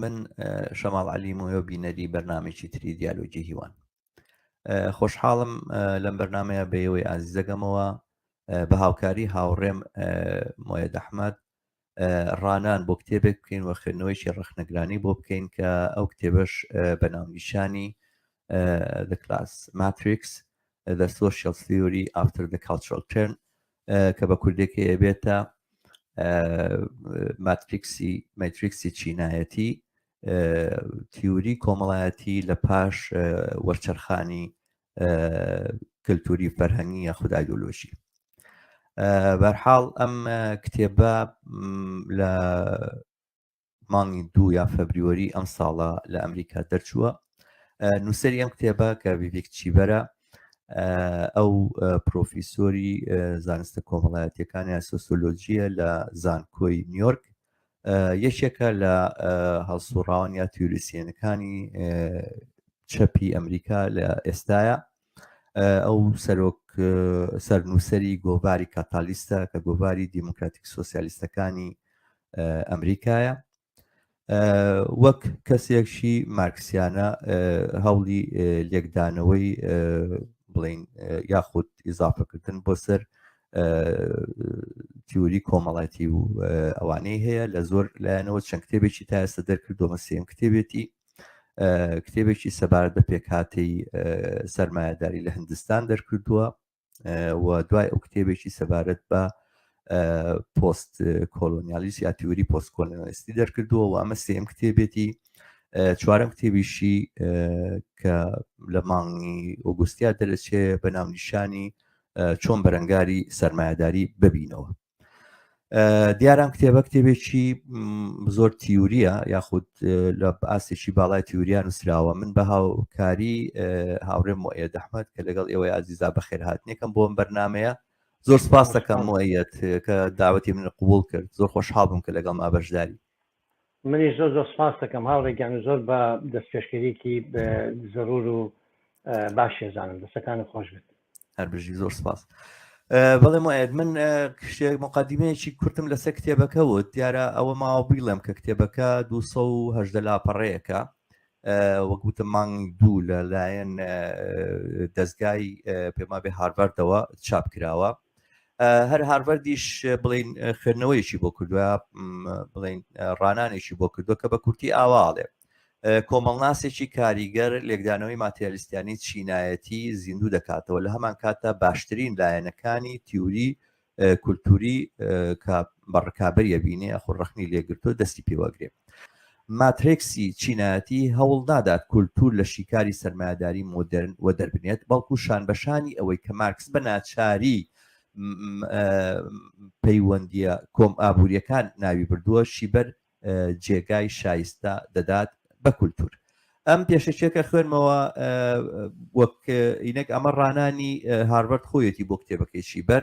من شەماڵ علی مۆیۆ بینەری بەرنمێکی تری دیالۆگی هیوان خۆشحاڵم لەم بەرنمەیە بەیەوەی ئازیزەگەمەوە بە هاوکاری هاوڕێم مۆیە دەحمد ڕانان بۆ کتێبێک بکەین و خوێندنەوەیکی ڕخنەگرانی بۆ بکەین کە ئەو کتێبەش بە ناونیشانی The Class Matrix The Social Theory After the Cultural Turn کە بە کوردێکی ئەبێتە ماتریکسی ماتریکسی چینایەتی تیوری کۆمەڵایەتی لە پاش وەرچەرخانی کللتوری فەرهەنگی یا خودایۆلۆژی بەرحاڵ ئەم کتێبە لە مانگی دوو یا فەبریوەری ئەم ساڵە لە ئەمریکا دەرچووە نووسری ئەم کتێبە کە بیڤک چیبەرە ئەو پرۆفیسۆری زانستە کۆمەڵایەتەکانی سۆسۆلۆژیە لە زانکۆی نیویۆرک یەکێکە لە هەڵسوڕاوان یا تیوریسیەنەکانی چەپی ئەمریکا لە ئێستاە ئەو سەرۆک سەرنووسری گۆڤاری کاتالیستە کە گۆڤاری دیموکراتیک سوسیالیستەکانی ئەمریکایە وەک کەسێکشی مارکسیانە هەوڵی لێکدانەوەی بڵین یاخود ئیزافەکردن بۆ سەر تیوری کۆمەڵاتی و ئەوانەی هەیە لە زۆر لایەنەوە چەند کتێبێکی تا ئێستا دەرکردۆمە سێم کتێبێتی کتێبێکی سەبارەت بە پێکهاتی سەرمایهداری لە هندستان دەرکردووە و دوای ئەو کتێبێکی سەبارەت بە پۆست کۆلۆنیالیس یا تیوری پۆست کۆلۆنیستی دەرکردووە و ئەمە سێم کتێبێتی چوارم کتێبیشی کە لە مانگی ئۆگوستیا دەرەچێ بە ناونیشانی چۆن بەرەنگاری سەرمایهداری ببینەوە دیارام کتێبە کتێبێکی زۆر تیوریە یاخود لە ئاستێکی باڵای تیوریان نووسراوە من بە هاوکاری هاوڕێ مۆە دەحمەت کە لەگەڵ ئێوە ئازیزا بەخێر هاتنێکم بۆم بەرنمەیە زۆر سپاس دەکەم مۆەت کە داوەتی من قوبول کرد زۆر خۆشحاڵ بووم کە لەگەڵ ما بەشداری منیش زۆر زۆر سپاست دەکەم هاوڕێ گیان و زۆر بە دەستپێشکەریکی زەرور و باش شێزانم دەسەکانی خۆش بێت هەر بژی زۆر سپاس بەڵێ مایەت من شتێک مقدمەیەکی کورتم لەسەر کتێبەکە وت دیارە ئەوە ماوە بیڵێم کە کتێبەکە 200 لاپەڕەیەەکە وەکوتە مانگ دوو لە لایەن دەستگای پێما بێ هارڤەردەوە چاپ کراوە هەر هارڤەردیش بڵین خوێندنەوەیشی بۆ کردوە بڵین ڕانانێکی بۆ کردو کە بە کورتی ئاواڵێ کۆمەڵناسێکی کاریگەر لێکدانەوەی ماتریالیستیانی چینایەتی زیندوو دەکاتەوە لە هەمان کاتە باشترین لایەنەکانی تیوری کولتوری کە بەڕکابەریە بینێ خۆ ڕخنی لێگرتو دەستی پێوەگرێت ماترێکسی چینایەتی هەوڵ نادات کولتوور لە شیکاری سەرمایەداری مۆدێرن وەدەربنێت، بەڵکو شانبەشانی ئەوەی کە مارکس بە ناچاری پەیوەندییە کۆم ئابوورییەکان ناوی بردووە شیبەر جێگای شایستە دەدات بە کولتوور. ئەم پێشەچێکە خوێنمەوە وەک ئینەک ئەمە ڕانانی هاربەرد خۆیەتی بۆ کتێبەکەی شیبەر.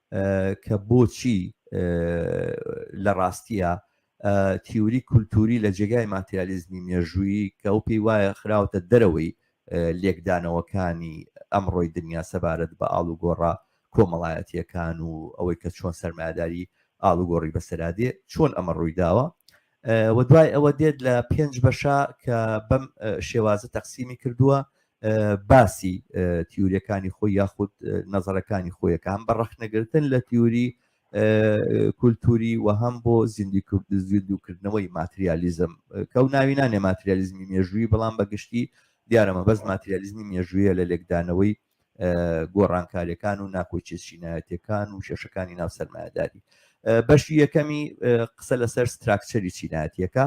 کە بۆچی لە ڕاستییا تیوری کولتووری لە جێگای ماتریالیزمی مێژوویی کە ئەو پێی وایە خراوەتە دەرەوەی لێکدانەوەکانی ئەمڕۆی دنیا سەبارەت بە ئاڵوگۆڕە کۆمەڵایەتیەکان و ئەوەی کە چۆن سەرمایەداری ئاڵوگۆڕی بەسەرادێ چۆن ئەمە ڕوویداوە و دوای ئەوە دێت لە پێنج بەشە کە بەم شێوازە تەقسیمی کردووە باسی تیورەکانی خۆی یاخود نەزەرەکانی خۆیەکان بە ڕەخنەگرتن لە تیوری کولتوری و هەم بۆ زیندی کورد زیندوکردنەوەی ماتریالیزم کە و ناوی نانێ ماتریالیزمی مێژووی بەڵام بە گشتی دیارەمە بەس ماتریالیزمی مێژوویە لە لێکدانەوەی گۆڕانکاریەکان و ناکۆچێت شینایەتەکان و کێشەکانی ناو سەرمایهداری بەشی یەکەمی قسە لەسەر ستراکچەری چینایەتەکە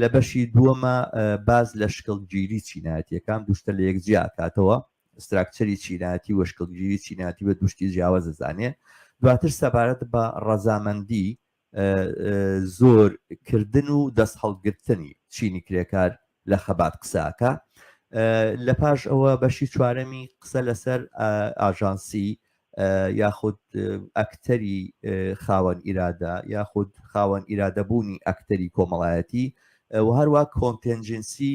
لە بەشی دووەمە باز لە شکڵگیری چینایەتەکان دوشتە لە یەک جیاکاتەوە ستراکچەری چینایەتی و شکڵگیری چیناتی بە دوشتی جیاوازە زانێ دواتر سەبارەت بە ڕەزامەندی زۆر کردن و دەست هەڵگرتنی چینی کرێکار لە خەبات قساکە لە پاش ئەوە بەشی چوارەمی قسە لەسەر ئاژانسی یاخود ئەکتەری خاوەن ئیرادە یاخود خاوەن ئیرادەبوونی ئەکتەری کۆمەڵایەتی و هەروە کۆنتێنجنسی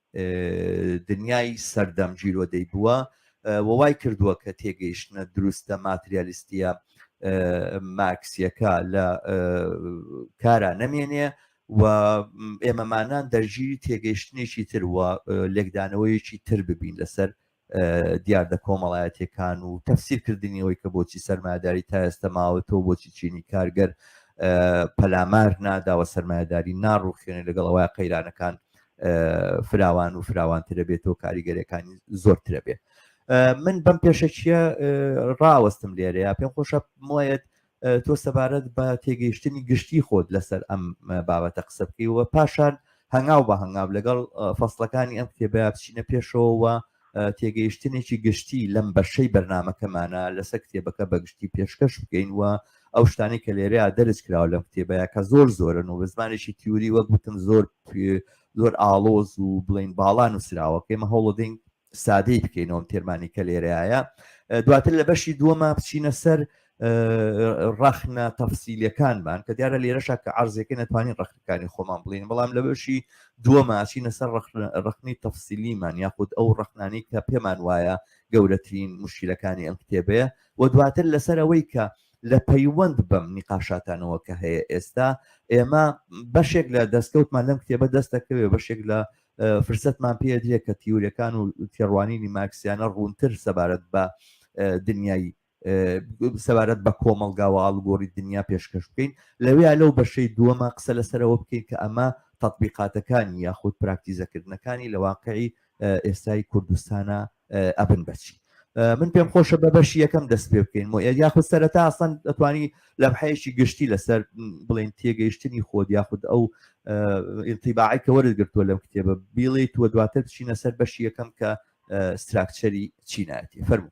دنیای سەردەم گیرۆدەی بووە و وای کردووە کە تێگەیشتنە دروستە ماتریالیستیە مارکسیەکە لە کارا نەمێنێ و ئێمەمانان دەرگیری تێگەیشتنێکی تر وە لێکدانەوەیەکی تر ببین لەسەر دیاردە کۆمەڵایەتیەکان و تەفسیر کردنی ئەوی کە بۆچی سەرماداری تا ئێستا ماوەتەوە بۆچی چینی کارگەر پەلامار ناداوە سەرمایهداری ناڕوخێنێ لەگەڵ ئەوە قەیرانەکان فراوان و فراوانترە بێتەوە کاریگەرەکانی زۆرترە بێت من بەم پێشەکیە ڕاوەستم لێرەیە پێم خۆشە مۆیەت تۆ سەبارەت بە تێگەیشتنی گشتی خۆت لەسەر ئەم بابەتە قسە بکەیەوە پاشان هەنگاو بە هەنگاو لەگەڵ فەصلەکانی ئەم کتێبە بچینە پێشەوەوە تێگەیشتنێکی گشتی لەم بەشەی بەرنمەکەمانە لەسەر کتێبەکە بەگشتی پێشکەش بکەین و ئەو شتانی کە لێرەیە دەرز کراوە لەم کتێبەیە کە زۆر زۆرن و بە زمانێکی تیوری وەک بتم زۆر زۆر ئاڵۆز و بڵین باڵان و سراوەکەی مە هەوڵدەین سادەی بکەینەوەم تێرمانی کە لێرەیە دواتر لە بەشی دووەمە بچینە سەر ڕەخنە تەفسیلەکانمان کە دیارە لێرەشا کە ئارزەکە نەتوانین ڕخنەکانی خۆمان بڵین بەڵام لە بەشی دووەماچینە سەر ڕخنی تەفسیلیمان یاخود ئەو ڕخنانی کە پێمان وایە گەورەترین مشکلەکانی ئەم کتێبەیە و دواتر لەسەر ئەوەی کە لە پەیوەند بەم نیقاشاتانەوە کە هەیە ئێستا ئێمە بەشێک لە دەستکەوتمان لەم کتێبە دەستەکەوێ بەشێک لە فرسەتمان پێ درێت کە تیورەکان و تێڕوانینی مارکسیانە ڕوونتر سەبارەت بە دنیای سەبارەت بە کۆمەلگاوە ئاڵگۆری دنیا پێشکەش بکەین لەوەیە لەو بەشەی دووەمە قسە لەسەرەوە بکەین کە ئەمە تطببیقاتەکانی یاخود پراکتیزەکردنەکانی لە واقعی ئێستای کوردستانە ئەبن بەچی من پێم خۆشە بە بەشی یەکەم دەست پێ بکەین مۆ یاخود سەرەتا ئەسەن دەتوانی لە بحەیەکی گشتی لەسەر بڵێن تێگەیشتنی خۆت یاخود ئەو ئینتیباعی کە وەرت گرتووە لەم کتێبە بیڵیت وە دواتر بچینە سەر بەشی یەکەم کە ستراکچەری چینایەتی فەرمو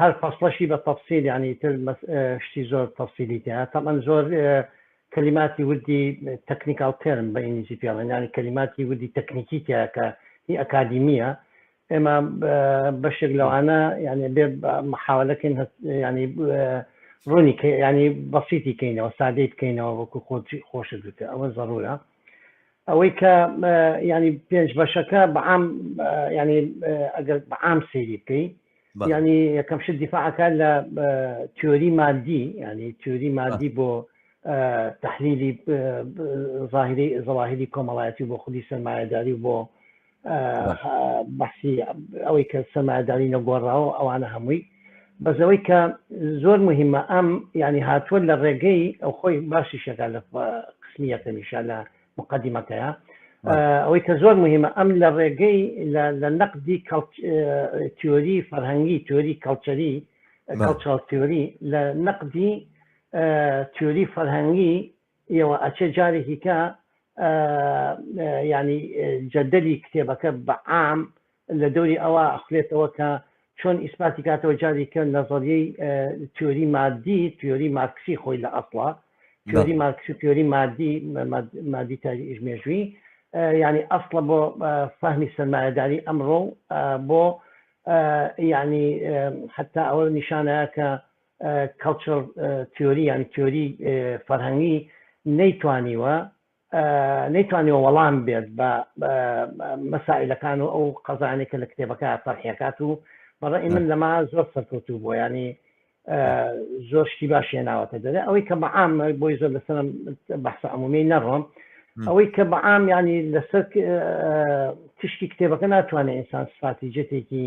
هەر فەسڵەشی بە تەفسیل یانی تر شتی زۆر تەفسیلی تێ تەمەن زۆر کەلیماتی وردی تەکنیکال تێرم بە ئینگلیزی پێڵێن ینی کەلیماتی وردی تەکنیکی تیاکە هی ئەکادیمیە ئێمە بەشێک لەوانە یعنی بێ محاولەکەین ینی ڕوونی ینی بەسیتی کەینەوە سادەی بکەینەوە وەکو خۆ خۆشت بکە ئەوە زەڕورە ئەوەی کە ینی پێنج بەشەکە بەعام ینی ئەگەر بەعام سەیری بکەی ینی یەکەم شت دیفاعەکە لە تیۆری مادی ینی تیۆری مادی بۆ تحلیلی ظاهری زەواهری کۆمەڵایەتی بۆ خودی سەرمایهداری بۆ بەسی ئەوەی کە سەمادانی نەگۆڕاوە ئەوانە هەمووی بەزەوەی کە زۆر مهمە ئەم ینی هاتووە لە ڕێگەی ئەو خۆی باشی شەکە لە قسمی یەکەمیشە لە مقدمەکەیە ئەوەی کە زۆر مهمە ئەم لە ڕێگەی لە نەقدی تیۆری فەرهەنگی تۆری کەڵچەری کەڵچڵ تیۆری لە نەقدی تیۆری فەرهەنگی یەوە ئەچێ جارێکی کە یانی جەدەلی کتێبەکە بە عام لە دەوری ئەوە ئەخلێتەوە کە چۆن ئیسپاتی کاتەوە جاری کە نەزەریەی تیۆری مادی تیۆری مارکسی خۆی لە ئەسڵە تیۆری مارکسی تیۆری مادی مادی تاریش مێژووی ینی ئەسڵە بۆ فەهمی سەرمایهداری ئەمڕۆ بۆ ینی حتا ئەوە نیشانەیە کە کەڵچڕ تیۆری یان تیۆری فەرهەنگی نەیتوانیوە نەیتوانیەوە وەڵام بێت بە مەسائلەکان و ئەو قەزانێک کە لە کتێبەکە تەرحەکات و بەڕێ من لەما زۆر سەرکەوتوو بۆ ینی زۆر شتی باشیە ناوەتە دەێ ئەوەی کە بەعام بۆی زۆر لەسەر بەسە عمومی نەڕۆم ئەوەی کە بەعام ینی لەسەر تشتی کتێبەکە ناتوانێت ئینسان سفاتی جێتێکی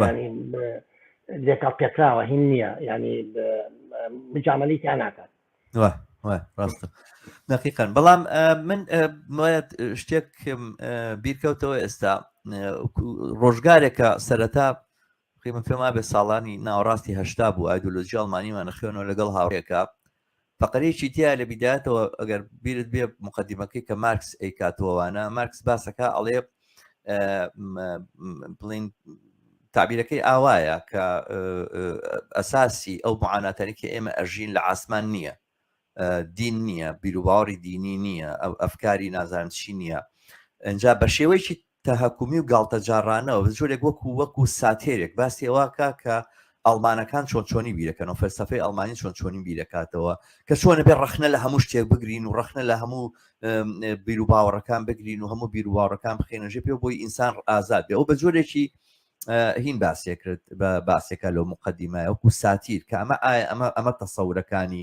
ینی لێکەڵ پێکراوە هین نییە ینی مجاملی تیا ناکات ڕاستە دقیقان بەڵام من مایەت شتێکم بیرکەوتەوە ئێستا ڕۆژگارێکە سەرەتا قیمە پێما بێ ساڵانی ناوەڕاستی هەشتا بوو ئایدۆلۆژی ئەڵمانیمانە خوێنەوە لەگەڵ هاوڕێکە فەقەرەیەکی تیا لە بیداتەوە ئەگەر بیرت بێ مقدمەکەی کە مارکس ئەیکاتوەوانە مارکس باسەکە ئەڵێ بڵین تعبیرەکەی ئاوایە کە ئەساسی ئەو معاناتەرێکی ئێمە ئەژین لە ئاسمان نییە دین نییە بیروباوەڕی دینی نییە ئەو ئەفکاری نازانشی نییە ئەجا بە شێوەیەکی تەهەکومی و گاڵتەجاڕانە و جۆرێک وەکو وەکو ساتێرێک باسی ئەوەکە کە ئەڵمانەکان چۆن چۆنی بیرەکەن و فەلسفەی ئەڵمانی چۆن چۆنی بیرەکاتەوە کە چۆنە بێ ڕخنە لە هەموو شتێک بگرین و ڕخنە لە هەموو بیر و باوەڕەکان بگرین و هەموو بیر و باوەڕەکان بخێنەژێ پێ بۆی ئینسان ئازاد بێ ئەو بە جۆرێکی هین باسێ کرد بە باسێکە لەو مقدمای وەکو ساتیر کە ئەمە ئایا ئەمە ئەمە تەسەورەکانی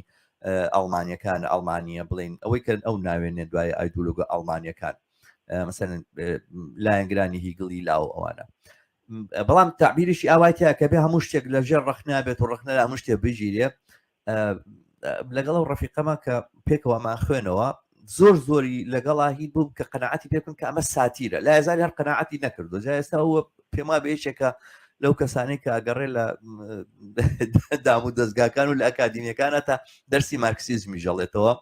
ئەڵمانیەکان ئەڵمانیە بڵین ئەوەی کەن ئەو ناوێنێ دوای ئایدولوگە ئەڵمانیەکان مەسەن لایەنگرانی هیگڵی لاو ئەوانە بەڵام تعبیریشی ئاوایتە کە بێ هەموو شتێک لە ژێر ڕخنا بێت و ڕخنە لە هەموو شتێ بگیرێ لەگەڵ و ڕفیقەمە کە پێکەوەمان خوێنەوە زۆر زۆری لەگەڵا هی بووم کە قەنەعاتی پێکن کە ئەمە ساتیرە لا هزار هەر قەنەعاتی نەکردو جا ئێستا ئەوە پێما بێشێکە لەو کەسانی کە ئەگەڕێ لە دام و دەستگاکان و لە ئەکادیمیەکانە تا دەرسی مارکسیزمی ژەڵێتەوە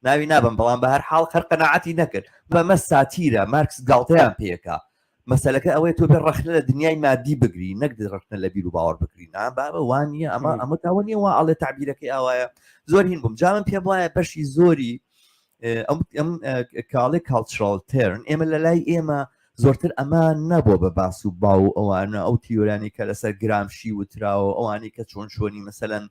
ناوی نابەم بەڵام بە هەر حاڵ خەر قەناعەتی نەکرد بەمە ساتیرە مارکس گاڵتەیان پێکا مەسەلەکە ئەوەیە تۆ بێ ڕەخنە لە دنیای مادی بگری نەک ڕەخنە لە بیر و باوەڕ بکری نا بابە وانە ئەمە ئەمە تاوە نیە وا ئەڵێ تعبیرەکەی ئاوایە زۆر هین بووم جاوم پێم وایە بەشی زۆری ئەم کاڵێ کاڵچڕال تێرن ئێمە لە لای ئێمە زۆرتر ئەمە نەبووە بە باس و باو و ئەوانە ئەو تیۆرانی کە لەسەر گرامشی وتراوە ئەوانی کە چۆن چۆنی مەسەەن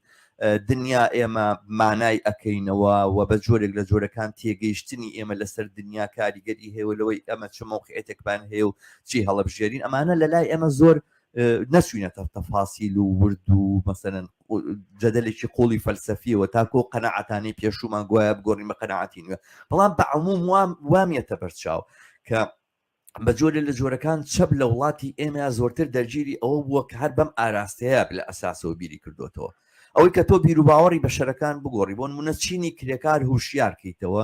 دنیا ئێمە مانای ئەەکەینەوە و بە جۆرێک لە جۆرەکان تێگەیشتنی ئێمە لەسەر دنیا کاریگەری هەیە لەوەی ئەمە چ مەوقعێتێکمان هەیە و چی هەڵبژێرین ئەمانە لە لای ئێمە زۆر نەچوینەتە تەفاسیل و ورد و مەسەن جەدەلێکی قۆڵی فەلسەفیەوە تاکۆ قەنەعاتانی پێشومان گوایە بگۆڕین بە قەنەعاتی نوێ بەڵام بە عموم وام وامیەتە بەرچاو کە بە جۆرە لە جۆرەکان چەپ لە وڵاتی ئێمە زۆرتر دەرگیری ئەوە بووە کە هەر بەم ئاراستەیە لە ئەساسەوە بیری کردوێتەوە ئەوەی کە تۆ بیروباوەڕی بەشەرەکان بگۆڕی بۆن منە چینی کرێکار هوشیارکەیتەوە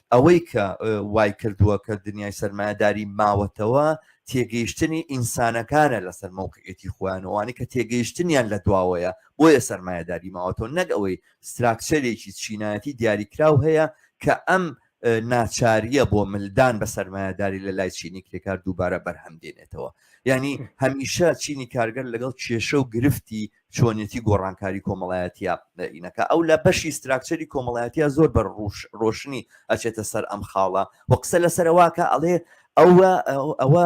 ئەوەی کە وای کردووە کە دنیای سەرمایەداری ماوەتەوە تێگەیشتنی ئینسانەکانە لەسەر مەوقعێتی خۆیانەوانی کە تێگەیشتنیان لە دواوەیە بۆیە سەرمایەداری ماوەتەوە نەک ئەوەی ستراکچەرێکی چینایەتی دیاریکراو هەیە کە ئەم ناچاریە بۆ ملدان بە سەرمایهداری لە لای چینی کرێکار دووبارە بەرهەم دێنێتەوە ینی هەمیشە چینی کارگەر لەگەڵ کێشە و گرفتی چۆنیەتی گۆڕانکاری کۆمەڵایەتیە ئینەکە ئەو لە بەشی ستراکچەری کۆمەڵایەتە زۆر بە ڕوش ڕۆشنی ئەچێتە سەر ئەم خاڵە و قسە لە سەرواکە ئەڵێ ئەوە ئەوە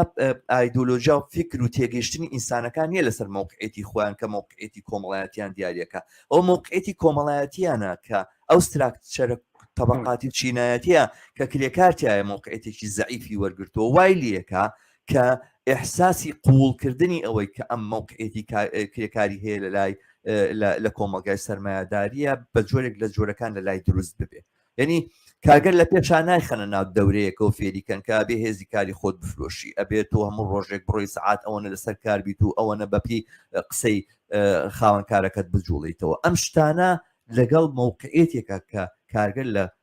ئایدۆلۆژیا و فکر و تێگەشتنی ئینسانەکان نیە لەسەر مووقعێتی خۆیان کە مووقعێتی کۆمەڵایەتیان دیارەکە ئەو مووقعێتی کۆمەڵایەتیانە کە ئەو ستراکچەرە طبقاتی چینایەتە کە کرێکارتیایە مووقعێتێکی زعیفی وەرگتووە وای لەکە کە ئحساسی قوڵکردنی ئەوەی کە ئەم مەوقعێتی کرێکاری هەیە لە لای لە کۆمەلگای سرمایهداریە بە جۆرێک لە جۆرەکان لە لای دروست ببێ یعنی کارگەر لە پێشان نایخەنە ناو دەورەیەکە و فێریکەن کە بێ هێزی کاری خۆت بفرۆشی ئەبێت و هەموو ڕۆژێک بڕۆی سعات ئەوەنە لەسەر کار بیت و ئەوەنە بەپی قسەی خاوەنکارەکەت بجوڵیتەوە ئەم شتانە لەگەڵ مووقعێتێکە کە کارگەر لە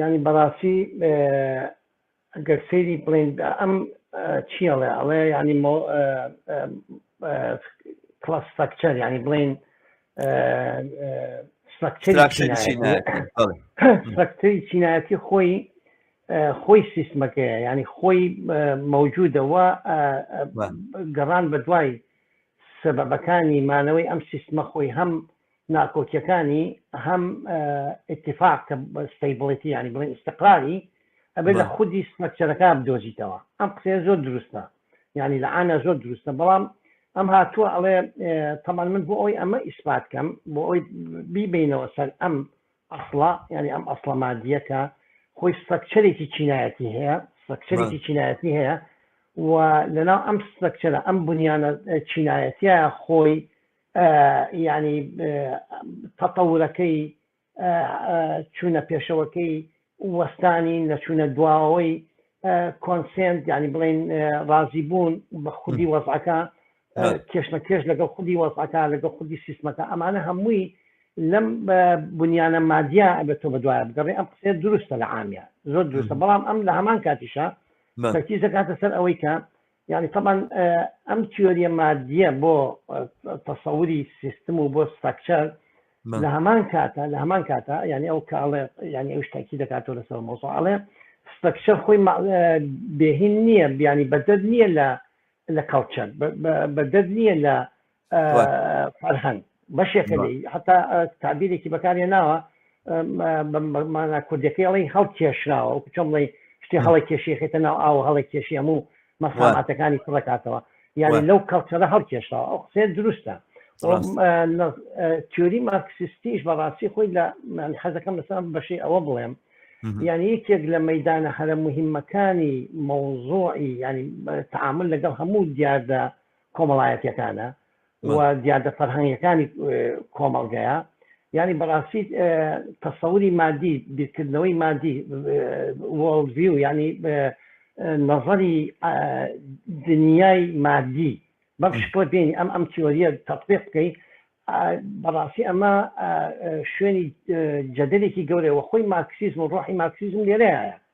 یانی بەڕاستی گەر سەیری بڵێن ئەم چی ئەڵێ ئەڵێ یانی کڵاس ستراکچەر یانی بڵێن ستراکتەری چینایەتی خۆی خۆی سیستمەکەیە ینی خۆی مەوجودەوە گەڕان بە دوای سەبەکانی مانەوەی ئەم سیستمە خۆی هەم ناکۆکیەکانی هەم ئتیفاق کە ستەیبڵیتی ینی بڵێن ئستقراری ئەبێت لە خودی سمەکچەرەکە بدۆزیتەوە ئەم قسەیە زۆر دروستە ینی لە ئانا زۆر دروستە بەڵام ئەم هاتووە ئەڵێ تەمان من بۆ ئەوی ئەمە ئیسپات کەم بۆ ئەوی بیبینەوە سەر ئەم ئەسڵە ینی ئەم ئەسڵە مادیەکە خۆی سترکچەرێکی چینایەتی هەیە سترکچەرێکی چینایەتی هەیە و لەناو ئەم سترکچەرە ئەم بنیانە چینایەتە خۆی یانی تەتەورەکەی چوونە پێشەوەکەی وەستانی نەچوونە دواوەی کۆنسنت ینی بڵین ڕازی بوون بە خودی وەزعەکە کێشمە کێش لەگەڵ خودی وەزعەکە لەگەڵ خودی سیستمەکە ئەمانە هەمووی لەم بنیانە مادیا ئەبێت تۆ بە دوایە بگەڕێ ئەم قسێ دروستە لە عامیان زۆر دروستە بەڵام ئەم لە هەمان کاتیشە تەکیزەکاتە سەر ئەوەی کە یانی تەبعەن ئەم تیۆریە مادیە بۆ تەسەوری سیستم و بۆ ستراکچەر لە هەمان کاتە لە هەمان کاتە ینی ئەو کاڵێ ینی ئەو شتاکی دەکاتەوە لەسەر مۆزۆ ئەڵێ ستراکچەر خۆی بێهین نییە بیانی بەدەر نییە لە لە کەڵچەر بەدەر نییە لە فەرهەنگ بەشێکە لێ حتا تابیرێکی بەکارێ ناوە مانا کوردەکەی ئەڵی هەڵ کێشراوە و چۆم بڵی شتێ هەڵی کێشیخێتە ناو ئاو هەڵی کێشی هەموو مەساماتەکانی کوڕکاتەوە یعنی لەو کەڵچەرە هەڵ کێشراوە ئەو قسێ دروستە تیۆری مارکسیستیش بەڕاستی خۆی لە حەزەکەم لەسان بەشی ئەوە بڵێم یعنی یەکێک لە مەدانە هەرە مهمەکانی مەوزۆعی ینی تعامل لەگەڵ هەموو دیاردە کۆمەڵایەتیەکانە و دیاردە فەرهەنگەکانی کۆمەڵگەیە ینی بەڕاستی تەسەوری مادی بیرکردنەوەی مادی وڵڤی و ینی نەزەری دنیای مادی بەم شکڵە بینی ئەم ئەم تیۆریە تەطبیق بکەی بەڕاستی ئەمە شوێنی جەدەلێکی گەورەوە خۆی مارکسیزم و ڕۆحی مارکسیزم لێرەیە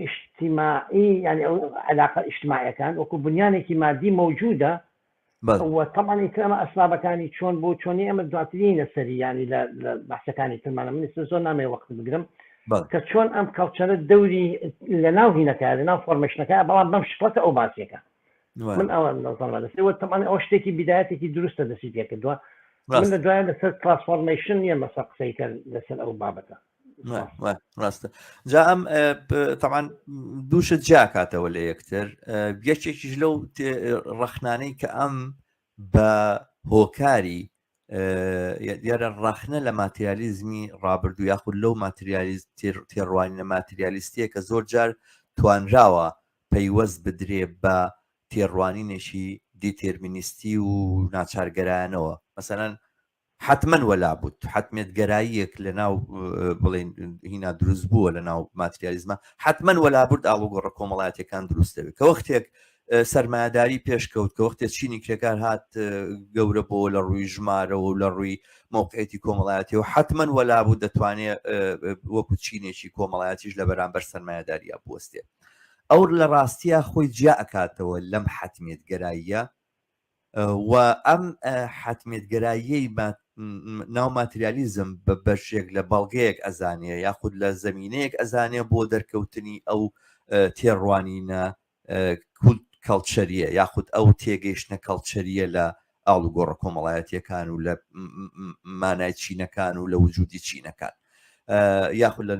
ئیشتیماعی یانی ئەو عەلاقە ئیشتیماعیەکان وەکو بنیانێکی مادی مەوجودە و تەمان ئیتر ئەمە ئەسبابەکانی چۆن بۆ چۆنی ئەمە دواترینە سەری ینی لە بەحسەکانی ترمانە من ئستا زۆر نامێ وەخت بگرم کە چۆن ئەم کەڵچەرە دەوری لە ناو هینەکە لە ناو فۆرمشنەکە بەڵام بەم شکڵەتە ئەو باسیەکە من ئەوە دەستەوە تەمان ئەو شتێکی بدایەتێکی دروستە دەسی پێکردووە من لە دوای لەسەر ترانسفۆرمشن نیە مەسە قسەیکە لەسەر ئەو بابەتە ڕاستە جا ئەم تەمان دووشت جیاکاتەوە لە یەکتر گەشتێکیش لەو ڕەخنانەی کە ئەم بە هۆکاری دیارە ڕەخنە لە ماتریالیزمی ڕابردوو یاخود لەو ماتریالیست تێڕوانینە ماتریالیستیە کە زۆر جار توانراوە پەیوەست بدرێ بە تێڕوانینێکی دیتێرمینیستی و ناچارگەرانەوە مەسەەن حەتمەن وەلا بوود حەتمیت گەراییەک لە ناو بڵین هینا دروست بووە لە ناو ماتریالیزمە حەتمەن وەلا بورد ئاڵوگۆڕە کۆمەڵاتەکان دروستەوێت کە وەختێک سەرمایهداری پێشکەوت کە وەختێ چینی کرێکار هات گەورە بۆ لە ڕووی ژمارەوە و لە ڕووی موقعێتی کۆمەڵایەتی و حتممەن وەلا بوو دەتوانێت وەکو چینێکی کۆمەڵایەتیش لە بەرامبەر سەرمایهداریا بستێ ئەو لە ڕاستیە خۆی جیا ئەکاتەوە لەم حتمێت گەراییە و ئەم حەتمیەتگەراییەی بە ناو ماتریالیزم بە بەشێک لە بەڵگەیەک ئەزانێ یاخود لە زمینەیەک ئەزانێ بۆ دەرکەوتنی ئەو تێڕوانینە کولت کەڵچەریە یاخود ئەو تێگەیشتە کەڵچەریە لە ئاڵوگۆڕە کۆمەڵایەتیەکان و لە مانای چینەکان و لە وجودی چینەکان یاخود لە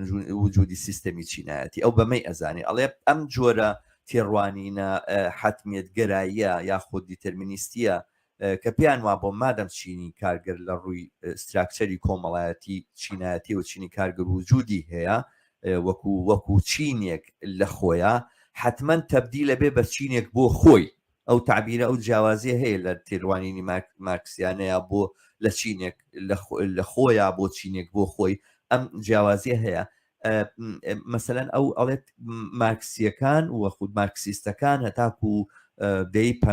وجودی سیستەمی چینایەتی ئەو بەمەی ئەزانێ ئەڵێ ئەم جۆرە تێڕوانینە حتمێت گەراییە یاخود دیتەرمینیستیە کە پێیان وا بۆ مادەم چینی کارگەر لە ڕووی ستراکچەری کۆمەڵایەتی چینایەتی و چینی کارگەر وجودی هەیە وەکو وەکو چینێک لە خۆیە حتمما تەبدی لە بێ بە چینێک بۆ خۆی ئەو تەعبیرە ئەو جیاوازیە هەیە لە تێروانینی مارکسیانەیە بۆ لە چینێک لە خۆیان بۆ چینێک بۆ خۆی ئەم جیاوازیە هەیە مەسەەن ئەو ئەڵێت مارکسیەکان و خود مارکسیستەکان هەتاکو و دەی پ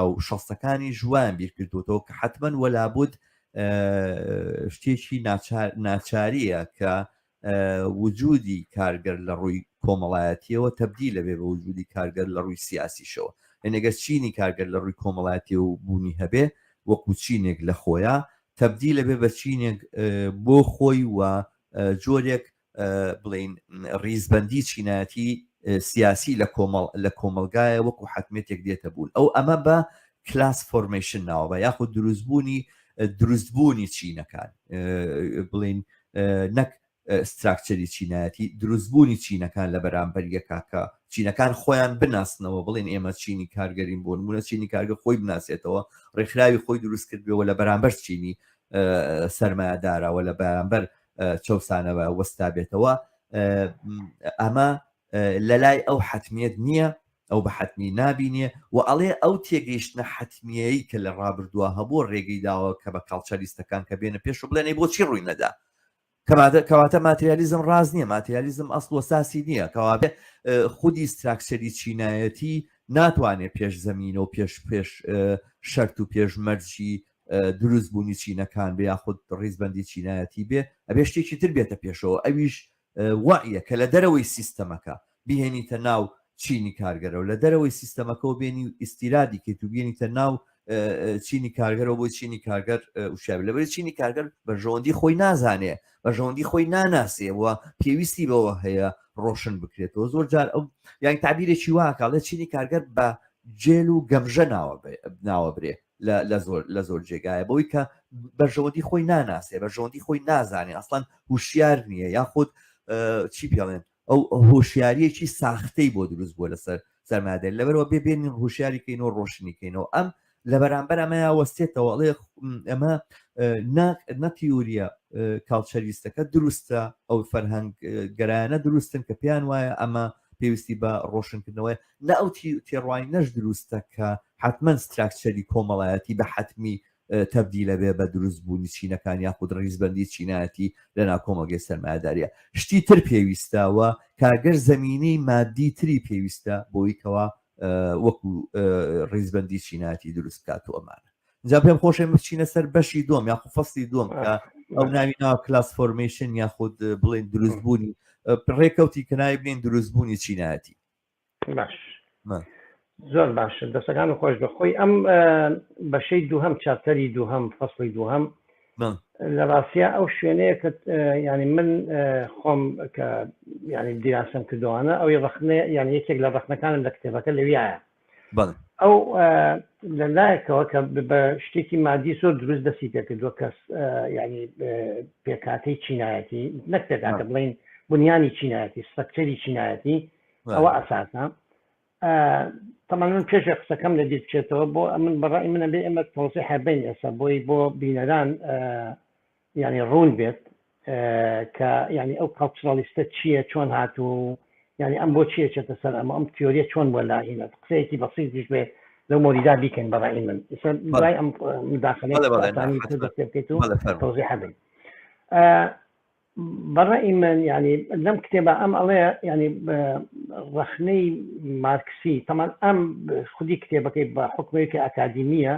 و شەستەکانی ژوان بیرکردوەوە کە حتمما وەلابوت شتێکی ناچاریە کە وجودی کارگەر لە ڕووی کۆمەڵایەتییەوە تەبدیل دەبێت بە وجودی کارگەر لە ڕووی سیاسیشەوە، یەنی گەر چینی کارگەر لە ڕووی کۆمەڵایەتییەوە و بوونی هەبێ وەکوو چینێک لە خۆیا، تەبدیل دەبێت بە چینێک بۆ خۆی و جۆرێک بڵێین ڕیزبەندی چینایەتی سیاسی لە کۆمەڵ لە کۆمەڵگایە وەکوو حەتمیەتێک دێتە بوون ئەو ئەمە بە کلاس فۆرمەیشن ناوەبە یاخود دروستبوونی دروستبوونی چینەکان بڵین نەک ستراکچەری چینایەتی دروستبوونی چینەکان لە بەرامبەر یەکاکە چینەکان خۆیان بناسنەوە بڵێن ئێمە چینی کارگەرین بۆ نمونە چینی کارگە خۆی بناسێتەوە ڕێکخراوی خۆی دروست کردەوە لە بەرامبەر چینی سەرمایهداراوە لە بەرامبەر چەسانەوە وەستا بێتەوە ئەمە لەلای ئەو حەتمیەت نیە، ئەو بە حەتمی نابینێ و ئەڵێ ئەو تێگەیشتنە حەتمیەیی کە لە ڕابردووە هەبووە ڕێگەی داوە کە بە کاڵچە لیستەکان کە بێنە پێش و بڵێن ئەی بۆچی ڕووی نەدا؟ کەواتە کەواتە ماتریالیزم ڕاست نیە، ماتریالیزم ئەسڵ و ساسی نیە، کەوابێ خودی ستراکچەری چینایەتی ناتوانێ پێش زەمینە و پێش پێش شەرت و پێش مەرجی دروست بوونی چینەکان بێ یاخود ڕیزبەندی چینایەتی بێ ئەبێ شتێکی تر بێتە پێشەوە ئەویش وەعیە کە لە دەرەوەی سیستەمەکە بیهێنیتە ناو چینی کارگەرەوە لە دەرەوەی سیستەمەکەەوە بێنی و ئیستیرادی کەیت و بێنیتە ناو چینی کارگەرەوە بۆی چینی کارگەر وشاب لەبەر چینی کارگەر بەرژەوەندی خۆی نازانێ بەرژەوەندی خۆی ناناسێ و پێویستی بەوە هەیە ڕۆشن بکرێتەوە زۆر جار ئەو یان تعبیرێکی واکڵێ چینی کارگەر بە جێل و گەمژە ناوە ناوە برێ لە زۆر لە زۆر جێگایە بەوەی کە بەرژەوەندی خۆی ناناسێ بەرژەوەندی خۆی نازانێ ئەسڵەن هوشیار نییە یاخود چی پێڵێن ئەو هۆشیاریەکی ساختەی بۆ دروست بووە لەسەر سەرمادەر لەبەرەوە بێ بێنین هوشیاریکەین و ڕۆشنیکەینەوە ئەم لە بەرامبەر ئەمەیا وەستێتەوە ئەڵێ ئەمە نەتیوریە کاڵچەریستەکە دروستە ئەو فەرهەنگ گەرایانە دروستن کە پێیان وایە ئەمە پێویستی بە ڕۆشنکردنەوەی نە ئەو تێڕوانینەش دروستە کە حەتمەن ستراکچەری کۆمەڵایەتی بە حەتمی تەبدیلە بێ بە دروست بوونی چینەکان یاخود ڕیزبەندی چینایەتی لە ناو کۆمەڵگەی سەرمایەداریە شتی تر پێویستەوە کارگەر زمینی مادی تری پێویستە بۆی کەوا وەکو ڕیزبەندی چینایەتی دروست بکات و ئەمانە جا پێم خۆشێ بچینە سەر بەشی دۆم یاخو فەستی دۆم کە ئەو ناوی ناو کلاس فۆرمیشن یاخود بڵێن دروستبوونی ڕێکەوتی کەنای بنین دروستبوونی چینایەتی باش زۆر باش دەسەکان و خۆش بەخۆی ئەم بەشەی دووهم چاپتەری دووهم فەصلی دووهم لە ڕاستە ئەو شوێنەیە کە ینی من خۆم کە ینی دیراسم کردوانە ئەوی ڕخنێ یان یەکێک لە ڕخنەکانم لە کتێبەکە لەویایە ئەو لە لایەکەوە کە بە شتێکی مادی زۆر دروست دەسی پێکردووە کەس ینی پێکاتەی چینایەتی نەک پێکاتە بڵین بنیانی چینایەتی سەکتەری چینایەتی ئەوە ئەساسە تەمان من پێشە قسەکەم لە دیر بچێتەوە بۆ ئەمن بەڕای منە بێ ئێمە تۆزی حەبین ئێستا بۆی بۆ بینەران یانی ڕوون بێت کە یانی ئەو کاڵچڕالیستە چییە چۆن هات و یانی ئەم بۆ چیە چێتە سەر ئەمە ئەم تیۆریە چۆن بۆ لا ئینە قسەیەکی بەسییت دیش بێ لەو مۆریدا بیکەین بەڕی من دوای ئەم مداخلەی بکەیت و تۆزی حەبن بەڕی من ینی لەم کتێبە ئەم ئەڵێ ینی ڕخنەی مارکسی تەمان ئەم خودی کتێبەکەی بە حکومێکی ئەکادیمیە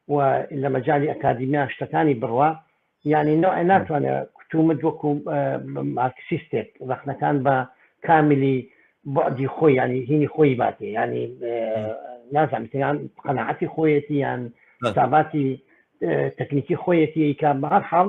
و لە مەجالی ئەکادیمیا شتەکانی بڕوا یانی نوع ناتوانێ کوتومت وەکو مارکسیستێک ڕخنەکان بە کاملی بعدی خۆی ینی هینی خۆی باتی ینی نازانیان قەنەعەتی خۆیەتی یان تاباتی تەکنیکی خۆیەتی کە بەهر حاڵ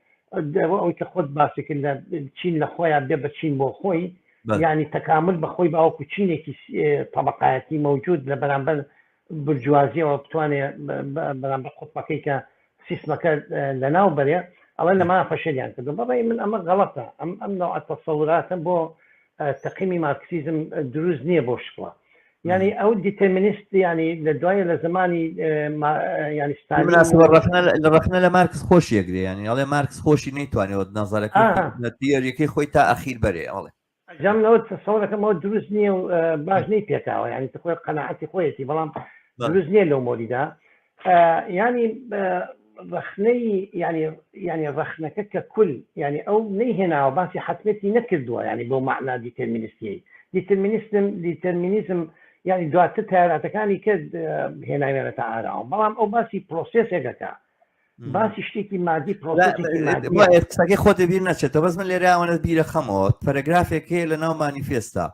ئەوەی کە خۆت باسی کرد لە چین لە خۆیان بێ بە چین بۆ خۆی ینی تەکامل بەخۆی باوەکو چینێکی طبقایەتی مەوجود لە بەرامبەر برجوازیەوە بتوانێت بەرامبەر قوتمەکەی کە سیستمەکە لە ناو بەرێ ئەڵێ لەما فەشەلیان کردو بەڕێ من ئەمە غەڵەتە ئەم ئەم ناوە تەسەوراتە بۆ تەقیمی مارکسیزم دروست نییە بۆ شکڵە یعنی ئەو دیتەمینیست ینی لە دوایە لە زمانی ڕخنە لە مارکس خۆش یەگرێ ینی ئەڵێ مارکس خۆشی نەیتوانێت نەزارەکە دیەرەکەی خۆی تا ئەخیر بەرێ ئەڵێ جامەوە تەسەڵەکەمەوە دروست نییە و باش نەی پێکاوە ینی خۆی قەنەعەتی خۆیەتی بەڵام دروست نییە لەو مۆریدا ینی ڕخنەی ینی ینی ڕخنەکە کە کول ینی ئەو نەی هێناوە باسی حتمەتی نەکردووە ینی بۆ معنا دیتەرمینستی دیتەرمینیستم دیتەرمینیزم ینی دواتر تاراتەکانی کرد هێناوێنەتە ئاراوە بەڵام ئەو باسی پرۆسسێکەکە باسی شتێکی مادی پرۆسەکەی خۆ دەبیر نەچێتە بەس من لێراوەە بیرە خەمەوە پەرەگرافێک هەیە لە ناو مانیفێستا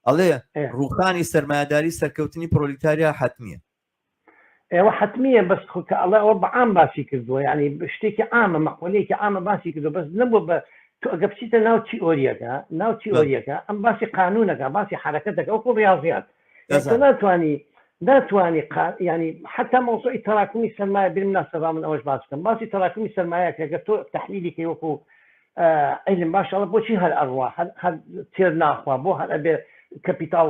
ئەڵێ ڕوخانی سەرمایهداری سەرکەوتنی پرۆلیتاریا حتممیە ئێوە حەتمیە بەس خۆ کە ئەڵێ ئەوە بە عام باسی کردووە یانی شتێکی عامە مەقۆلەیەکی عامە باسی کردو بەس نەبوو بە تو ئەگە بچیتە ناو تیئۆریەکە ناو بەڵێ تیئۆریەکە ئەم باسی قانونەکە باسی حرەکەتەکە وەکو ڕاضیات یان تۆ دەزانم ناتانی ناتانی قا ینی حتا مەوزوعی تراکمی سەرمایە بیر ناسەبا من ئەوەش باس بکەم باسی تراکمی سەرمایە کەگە تۆ تحلیلی کەی وەکو ئەیلم باشەڵە بۆچی هەر ئەڕوا هەر هەر تێر ناخوا بۆ هەر ئەبێ کەپیتاڵ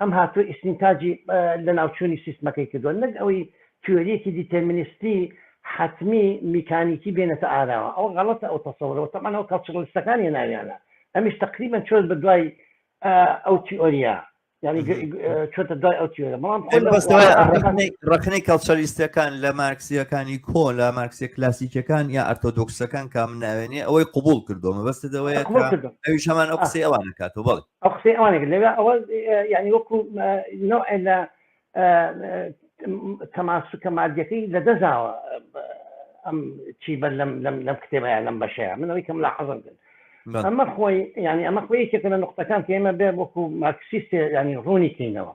ئەم هاتووە ئیستینتاجی لەناوچوونی سیستمەکەی کردووە، نەک ئەوەی تیۆرییەکی دیتێرمینیستی حەتمی میکانیکی بێنێتە ئاراوە. ئەوە غەڵەتە ئەو تەسەورە و تەبعەن ئەوە کەڵچڕلیستەکان هێناویانە. ئەمیش تەقریبەن چۆت بە دوای ئەو تیۆرییە. یانی چۆتە دوای ئەو تیۆرە بەڵام خۆ لە بەستەوە ڕەخنەی- ڕەخنەی کەڵچەلیستەکان لە مارکسیەکانی کۆ لە مارکسیە کلاسیکەکان یا ئەرتۆدۆکسەکان کام ناوێنێ ئەوەی قبول کردووە مەبەستت ئەوەیە قبول کە کردم. ئەویش هەمان ئەو قسەی ئەوان دەکاتەوە بەڵێ ئەو قسەی ئەوانە کرد لەوێ ئەوە یعنی وەکو نوع لە تەماسوکە مادیەکەی لە دەزاوە ئەم چی بەر لەم لەم لەم کتێبەیە لەم بەشەیە منەوەی کەم لە حەزم کرد ئەمە خۆی ینی ئەمە خۆی یەکێکە لە نقطەکان کە ئێمە بێ وەکو مارکسیستێ ینی ڕوونی کەینەوە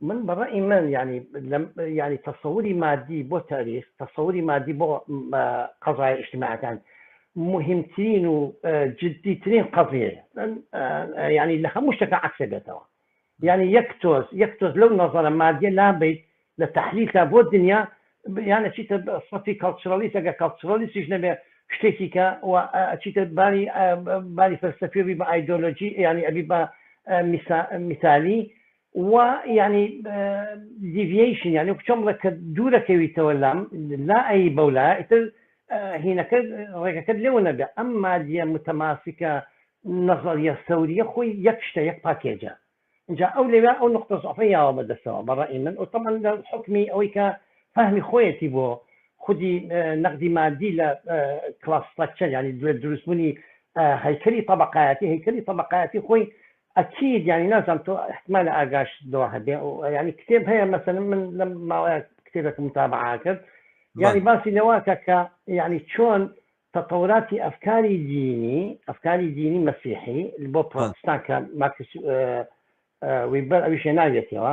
من بە ڕەئی من یانی لەم یانی تەسەوری مادی بۆ تاریخ تەسەوری مادی بۆ قەزای ئیشتیماعەکان مهمترین و جددیترین قەزیە ینی لە هەموو شتەکە عکسێ بێتەوە یعنی یەک تۆز یەک تۆز لەو نەزانە مادیە لابیت لە تحلیلکە بۆ دنیا یانە چیتە سەفی کەڵچڕەلیس ئەگە کەڵچڕەلیسیش نەبێ شتێکی کە چیتە باری باری فەلسەفیبی بە ئایدۆلۆژی ینی ئەبی بە میتالی وە یانی دیڤیەیشن یانی وەکو چۆن بڵێ کە دوورەکەویتەوە لام لا ئەی بەو لایە ئیتر هینەکە ڕێگەکەت لێوە نەبێ ئەم مادیە متەماسکە نەزەریە سەوریە خۆی یەک شتە یەک پاکێجە اینجا ئەو لەوێ ئەو نقطە زعفە یاوە بەدەستەوە بەڕی من و تەمان لە حکمی ئەوەی کە فەهمی خۆیەتی بۆ خودی نەقدی مادی لە کلاس ستراکچەر ینی دوێ دروستبوونی هەیکەری طبقایەتی هەیکەری طبقایەتی خۆی ئەکید یانی نازام تۆ احتمالە ئاگاش لەوە هەبێ یانی کتێب هەیە مەسەن من لەم ماوەیە کتێبێکم متابعا کرد یانی باسی لەوەکە کە یعنی چۆن تەتەوراتی ئەفکاری دینی ئەفکاری دینی مەسیحی بۆ پرۆتستان کە ماکس ویبەر ئەویشێ ناوێتەوە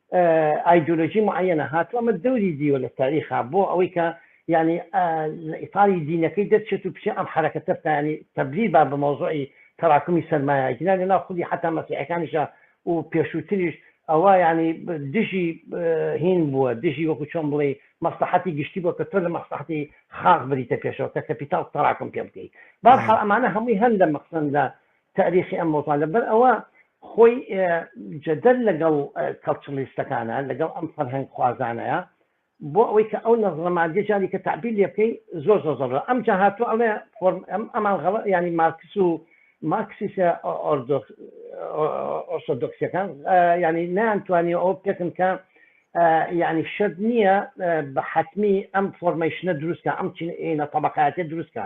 ئایدۆلۆژی معەیەنە هاتووە ئەمە دەوری دیوە لە تاریخا بۆ ئەوەی کە یانی لە ئیتاری دینەکەی دەرچێت و بچێ ئەم حرەکەتە بکانی تەبری با بە مەوزوعی تەراکمی سەرمایە گینا لە ناو خودی حتا مەسیحەکانیشە و پێشووتریش ئەوە ینی دژی هین بووە دژی وەکو چۆن بڵێ مەسلحەتی گشتی بۆ کە تۆ لە مەسلحەتی خاق بریتە پێشەوە کە کەپیتال تەراکم پێ بکەیت باحاڵ ئەمانە هەمووی هەن لە مەقسەن لە تاریخی ئەم مۆزان لەبەر ئەوە خۆی جەدەل لەگەڵ کەڵچڵیستەکانە لەگەڵ ئەم فەرهەنگ خوازانەیە بۆ ئەوەی کە ئەو نەزڵە مادی جاری کە تعبیر لێ بکەی زۆر زۆر زۆر ئەم جا هاتوو ئەڵێ فۆرم ئەم ئەمان غەڵ ینی مارکس و مارکسیسە ئۆرسۆدۆکسەکان ینی نانتوانی ئەو پێکن کە ینی شت نییە بە حتمی ئەم فۆرمەیشنە دروستکە ئەم چینە طبقاتێ دروستکە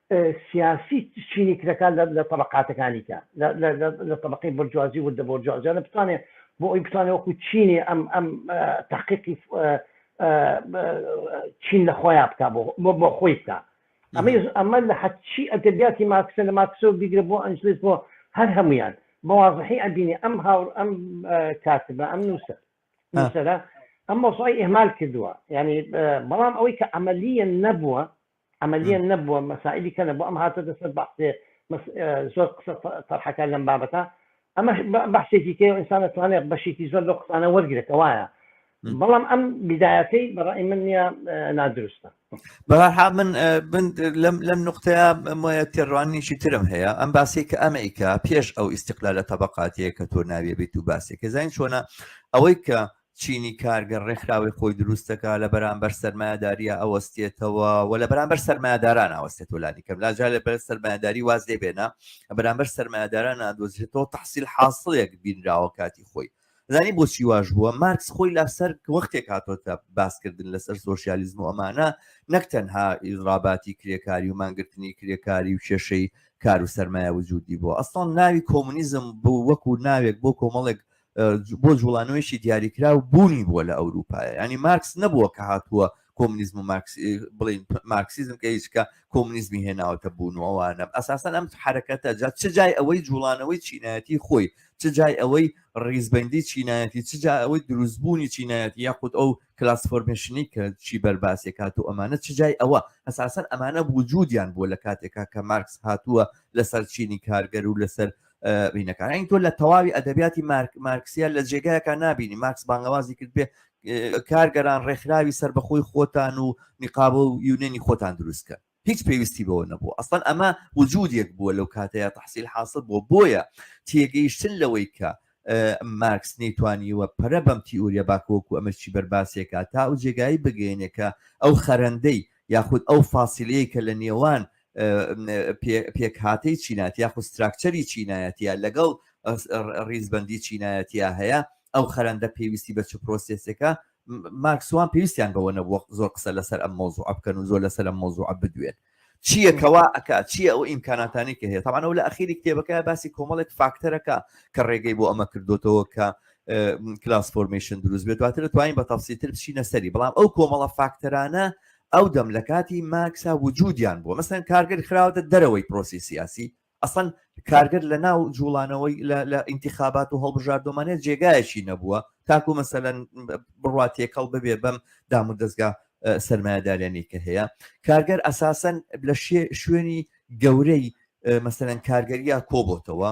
سیاسی چینی کرێکار لە تەبەقاتەکانی کە لە تەبەقەی بۆرجوازی وردە بۆرجوازیانە بتوانێت بۆ ئەوی بتوانێت وەکو چینی ئەم ئەم تحقیقی چین لە خۆیان بک بۆ بۆ خۆی بکە ئەمە ئەمە لە حەچی ئەدەبیاتی ماکسە لە ماکسەوە بیگرە بۆ ئەنجلس بۆ هەر هەمویان بەوازحی ئەبینی ئەم هاور ئەم کاتبە ئەم نووسە نووسەرە ئەم مۆسای ئهمال کردووە ینی بەڵام ئەوەی کە ئەمەلیە نەبووە عملیەن نەبووە مەسائلی کەنە بۆ ئەم هاتۆتە سەر بەحسێ زۆر قسە تەرحەکە لەم بابەتە ئەمە بەحسێکی کێ ئینسان توانێت بەشێکی زۆر لە قسانە وەرگێتە وایە بەڵام ئەم بدایەتەی بەڕی من نیە نادروستە بەها من لەم نقطەیە مۆە تێڕوانیشی ترم هەیە ئەم باسی کە ئەمریکا پێش ئەو ئیسیقلا لە تەبقاتەیە کە تۆ ناوێ بیت و باسێکە زین چۆنە ئەوەی کە چینی کارگەر ڕێکخراوەی خۆی دروست دەکات لە بەرامبەر سەرمایەداریە ئەوەستێتەوە و لە بەرامبەر سەرمایەداران ئاوەستێت و لانی کەم لاجار لە بەر سەرمایەداری واز لێ بێنە بەرامبەر سەرمایەداران نادۆزرێتەوە تحصیل حاصلێک بینراوە کاتی خۆی زانی بۆچی واش بووە مارکس خۆی لەسەر وەختێک هاتۆتە باسکردن لەسەر سۆسیالیزم و ئەمانە نەک تەنها ئیزراباتی کرێکاری و مانگرتنی کرێکاری و کێشەی کار و سەرمایە وجودی بۆ ئەسڵان ناوی کۆمونیزم بوو وەکو ناوێک بۆ کۆمەڵێک بۆ جوڵانەوەیشی دیاریکراو بوونی بووە لە ئەوروپایە ینی مارکس نەبووە کە هاتووە کۆمنیزم و بڵین مارکسیزم کە هیچکە کۆمنیزمی هێناوەتە بوون و ئەوانە ئەساسەن ئەم حرەکەتە جا چ جای ئەوەی جوڵانەوەی چینایەتی خۆی چ جای ئەوەی ڕیزبندی چینایەتی چ جای ئەوەی دروستبوونی چینایەتی یاخود ئەو کلاس فۆرمشنی کە چی بەرباسێک هات و ئەمانە چ جای ئەوە ئەساسەن ئەمانە وجودیان بووە لە کاتێکا کە مارکس هاتووە لەسەر چینی کارگەر و لەسەر بینەکان ئەین تۆ لە تەواوی ئەدەبیاتی مارک مارکسیە لە جێگایەکە نبینی ماکس بانگەوازی کرد بێ کارگەران ڕێکخراوی سەر بەخۆی خۆتان و نقاب و یونێنی خۆتان دروستکە هیچ پێویستی بەوە نەبوو ئەستان ئەمە وجودێک بووە لەو کاتەیە تحصیل حاصل بۆ بۆیە تێگەیشتن لەوەی کە مارکس نەیتوانیوە پەرە بەم تیورە باکۆکو ئەمەشی بەرباسێکە تا ئەو جێگایی بگەێنێکە ئەو خەرەندەی یاخود ئەو فاسیلەیە کە لە نێوان پێکهاتەی چینات یاخو ستراکچەری چینایەتە لەگەڵ ڕیزبندی چینایەتە هەیە ئەو خەرندە پێویستی بە چ پرۆسسێکە ماکسوان پێویستیان بەوە نەبووە زۆر قسە لەسەر ئەم مۆزوع بکەن و زۆر لەسەر ئەم مۆزوع بدوێن چیەکەوا ئەک چیە ئەو ئیمکاناتانی کە هەیە تاوانەوە لە ئەخیری کتێبەکە باسی کۆمەڵێک فاکتەرەکە کە ڕێگەی بۆ ئەمە کردوتەوە کە کلاس فۆرمشن دروست بێت دواتر توانین بە تەفسیتر بچینە سەری بەڵام ئەو کۆمەڵە فاکتەرانە ئەو دەم لە کاتی مارکسا وجودیان بووە مەسەن کارگەر خراوەتە دەرەوەی پرۆسی سیاسی ئەسەن کارگەر لە ناو جوڵانەوەی لە ئینتیخابات و هەڵبژاردۆمانە جێگایەکی نەبووە تاکو مەسەەن بڕات تێکەڵ ببێ بەم دام و دەستگا سرمایهدارێنی کە هەیە کارگەر ئەساسەن لە شوێنی گەورەی مەسەەن کارگەریا کۆبتەوە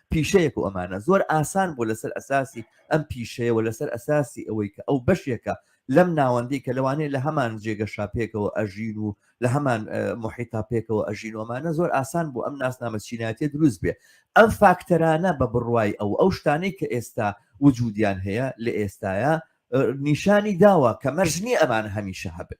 پیشەیەک و ئەمانە زۆر ئاسان بوو لەسەر ئەساسی ئەم پیشەیە و لەسەر ئەساسی ئەوەی کە ئەو بەشێکە لەم ناوەندی کە لەوانەیە لە هەمان جێگەشا پێکەوە ئەژین و لە هەمان محیتا پێکەوە ئەژین و ئەمانە زۆر ئاسان بوو ئەم ناسنامە چینایەتی دروست بێ ئەم فاکتەرانە بە بڕوای ئەو ئەو شتانەی کە ئێستا وجودیان هەیە لە ئێستاە نیشانی داوە کە مەرجنی ئەمان هەمیشە هەبن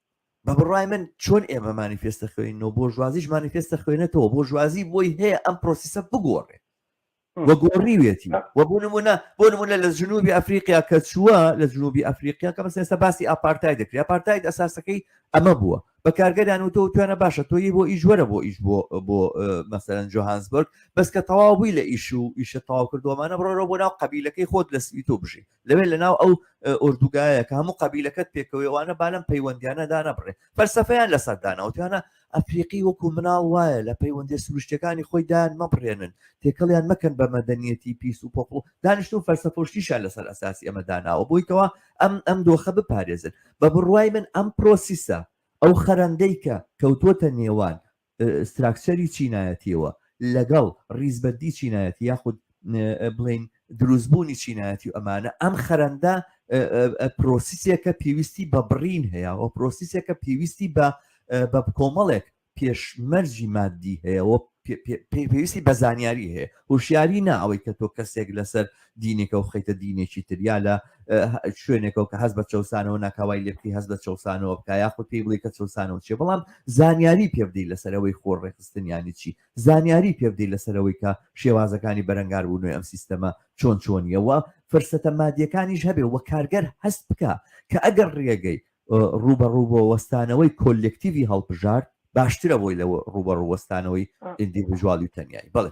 بە بڕای من چۆن ئێمە مانیفێستە خوێنەوە بۆ ژوازیش مانیفێستە خوێنێتەوە بۆ ژوازی بۆی هەیە ئەم پرۆسیسە بگۆڕێ وە گۆڕیوێتی وە بۆ نمونە بۆ نمونە لە جنوبی ئەفریقیا کە چووە لە جنوبی ئەفریقیا کە مەسێستا باسی ئاپارتای دەکری ئاپارتایت ئەساسەکەی ئەمە بووە بە کارگەدان و تۆ توانە باشە تۆی بۆ ئیش وەرە بۆ ئیش بۆ بۆ مەسەرەن جۆهانسبرگ بەس کە تەواو بووی لە ئیش و ئیشە تەواو کردومانە بڕۆرە بۆ ناو قبیلەکەی خۆت لە سویت و بژی لەوێ لەناو ئەو ئۆردوگایە کە هەموو قەبیلەکەت پێکەوەوانە با لەم پەیوەندیانە دانەبڕێ فەرسەفەیان لەسەر داناوتیانە ئەفریقی وەکو مناڵ وایە لە پەیوەندی سروشتەکانی خۆی دایان مەبڕێنن تێکەڵیان مەکەن بە مەدەنیەتی پیس و پۆپڵ دانیشتون فەرسەفۆشتیشان لەسەر ئەساسی ئەمە داناوە بۆیکەوە ئەم ئەم دۆخە بپارێزن بە بڕوای من ئەم پرۆسیسە ئەو خەرەندەی کە کەوتوتە نێوان ستراکچەری چینایەتیەوە لەگەڵ ڕیزبەندی چینایەتی یاخود بڵین دروستبوونی چینایەتی و ئەمانە ئەم خەرەندە پرۆسیسێکە پێویستی بە بڕین هەیە و پرۆسیسێکە پێویستی بە بە کۆمەڵێک پێشمەرجی مادی هەیە و پێویستی بە زانیاری هەیە هوشیاری نا ئەوەی کە تۆ کەسێک لەسەر دینێکەوە بخەیتە دینێکی تر یا لە شوێنێکەوە کە هەست بە چەسانەوە ناکاوای لێ بکەی هەست بە چەسانەوە بکە یاخود پێی بڵی کە چەسانەوە چێ بەڵام زانیاری پێبدەی لەسەرەوەی خۆر ڕێخستنیانی چی زانیاری پێبدەی لەسەرەوەی کە شێوازەکانی بەرەنگار بوو نوێ ئەم سیستەمە چۆن چۆنیەوە فرسەتە مادیەکانیش هەبێ وە کارگەر هەست بکە کە ئەگەر ڕێگەی ڕوبەڕوبۆ وەستانەوەی کۆلکتیوی هەڵبژارد باشترە بۆی لە ڕوبەڕوەستانەوەی ئیندیڤژوالی تەنیایی بڵێ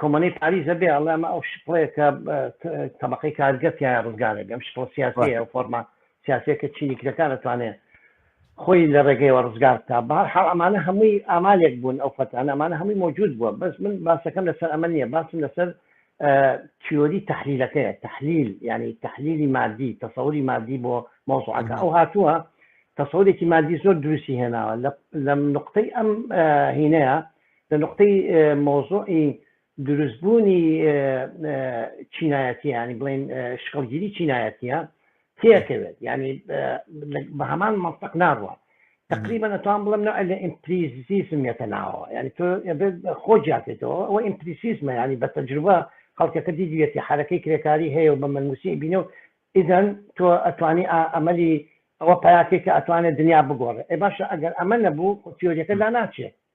کۆمەلەی پاریس ئەبێ ئەڵێ ئەمە ئەو شپڵەیە کە تەبەقەی کارگە تیایە ڕزگارێ بێ، ئەم شپڵە سیاسیەیە و فۆرمە سیاسیە کە چینی کرێکار ئەتوانێ خۆی لە ڕێگەیەوە ڕزگار بکا. بە هەر حاڵ ئەمانە هەمووی ئامالێک بوون ئەو فەتانە، ئەمانە هەمووی مەوجود بووە، بەس من باسەکەم لەسەر ئەمە نییە، باسم لەسەر تیۆری تەحلیلەکەیە، تەحلیل یانی تەحلیلی مادی، تەسەوری مادی بۆ مەوزوعەکە. ئەو هاتووە تەسەورێکی مادی زۆر دروستی هێناوە لە نوقتەی ئەم هینەیە لە نوقتەی مەوزوعی دروست بوونی چینایەتی ینی بڵین شکڵگیری چینایەتیە تێکەوێت ینی بە هەمان منطق ناڕوە تقریبا نتوان بڵم نوع لە ئیمپریزیسم یەتە ناوە ینی تۆ خۆ جاتێتەوە ئەوە ئیمپریسیسمە ینی بە تەجروبە خەڵکەکە دیدوێتی حرەکەی کرێکاری هەیە و بە مەنووسی بینە و ئیدەن تۆ ئەتوانی ئەمەلی ئەوە پیاکێک کە ئەتوانێت دنیا بگۆڕێ ئێ باشە ئەگەر ئەمە نەبوو تیۆریەکە لا ناچێت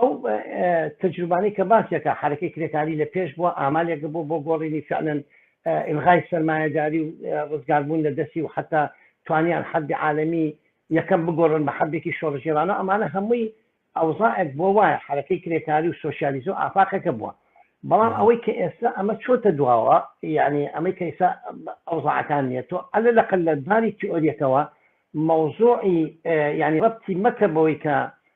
ئەو تەجروبانەی کە باسیەکە حرەکەی کرێکاری لە پێش بووە ئامالێک بوو بۆ گۆڕینی فعلەن ئلغای سەرمایەداری و ڕزگاربوون لە دەستی و حتا توانیان حەبی عاالەمی یەکەم بگۆڕن بە حەبێکی شۆڕژێرانە ئەمانە هەمووی ئەوزائێک بۆ وایە حرەکەی کرێکاری و سوسیالیزم و ئافاقەکە بووە بەڵام ئەوەی کە ئێستا ئەمە چۆتە دواوە یعنی ئەمەی کەیسا ئەوزاعەکان نیە تۆ ئەلە لە قل لە داری تیۆریەکەوە مەوزوعی یعنی ڕەتی مەکە بەوەی کە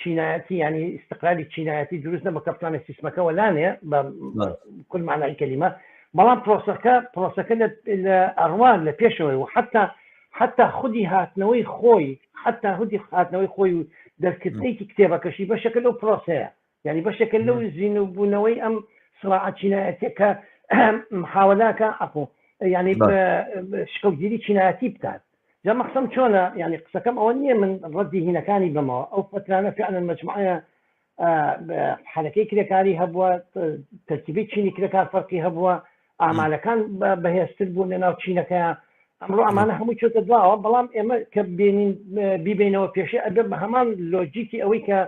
چینایەتی ینی استقلالی چینایەتی دروست نەبە کە بتوانێت سیسمەکە وەلانێ بە کل مانای کەلیمە بەڵام پرۆسەکە پرۆسەکە لە ئەڕوان لە پێشەوەی و حتا حتا خودی هاتنەوەی خۆی حتا هودی هاتنەوەی خۆی و دەستکردێکی کتێبەکەشی بەشەکە لەو پرۆسەیە یعنی بەشێکە لەو زیینوبوونەوەی ئەم سراعە چینایەتە کە محاولاکە ئەخۆ یعنی شکڵگیری چینایەتی بکات جا مەخسم چۆنە یعنی قسەکەم ئەوە نییە من ڕەتی هینەکانی بمەوە ئەو فترانە فعلا مجموعە حرەکەی کرێکاری هەبووە تەرکیبی چینی کرێکار فەرقی هەبووە ئامالەکان بەهێزتر بوون لە ناو چینەکەیان ئەمڕۆ ئەمانە هەموو چۆتە دواوە بەڵام ئێمە کە بێنین بیبینەوە پێشێ ئەبێ بە هەمان لۆجیکی ئەوەی کە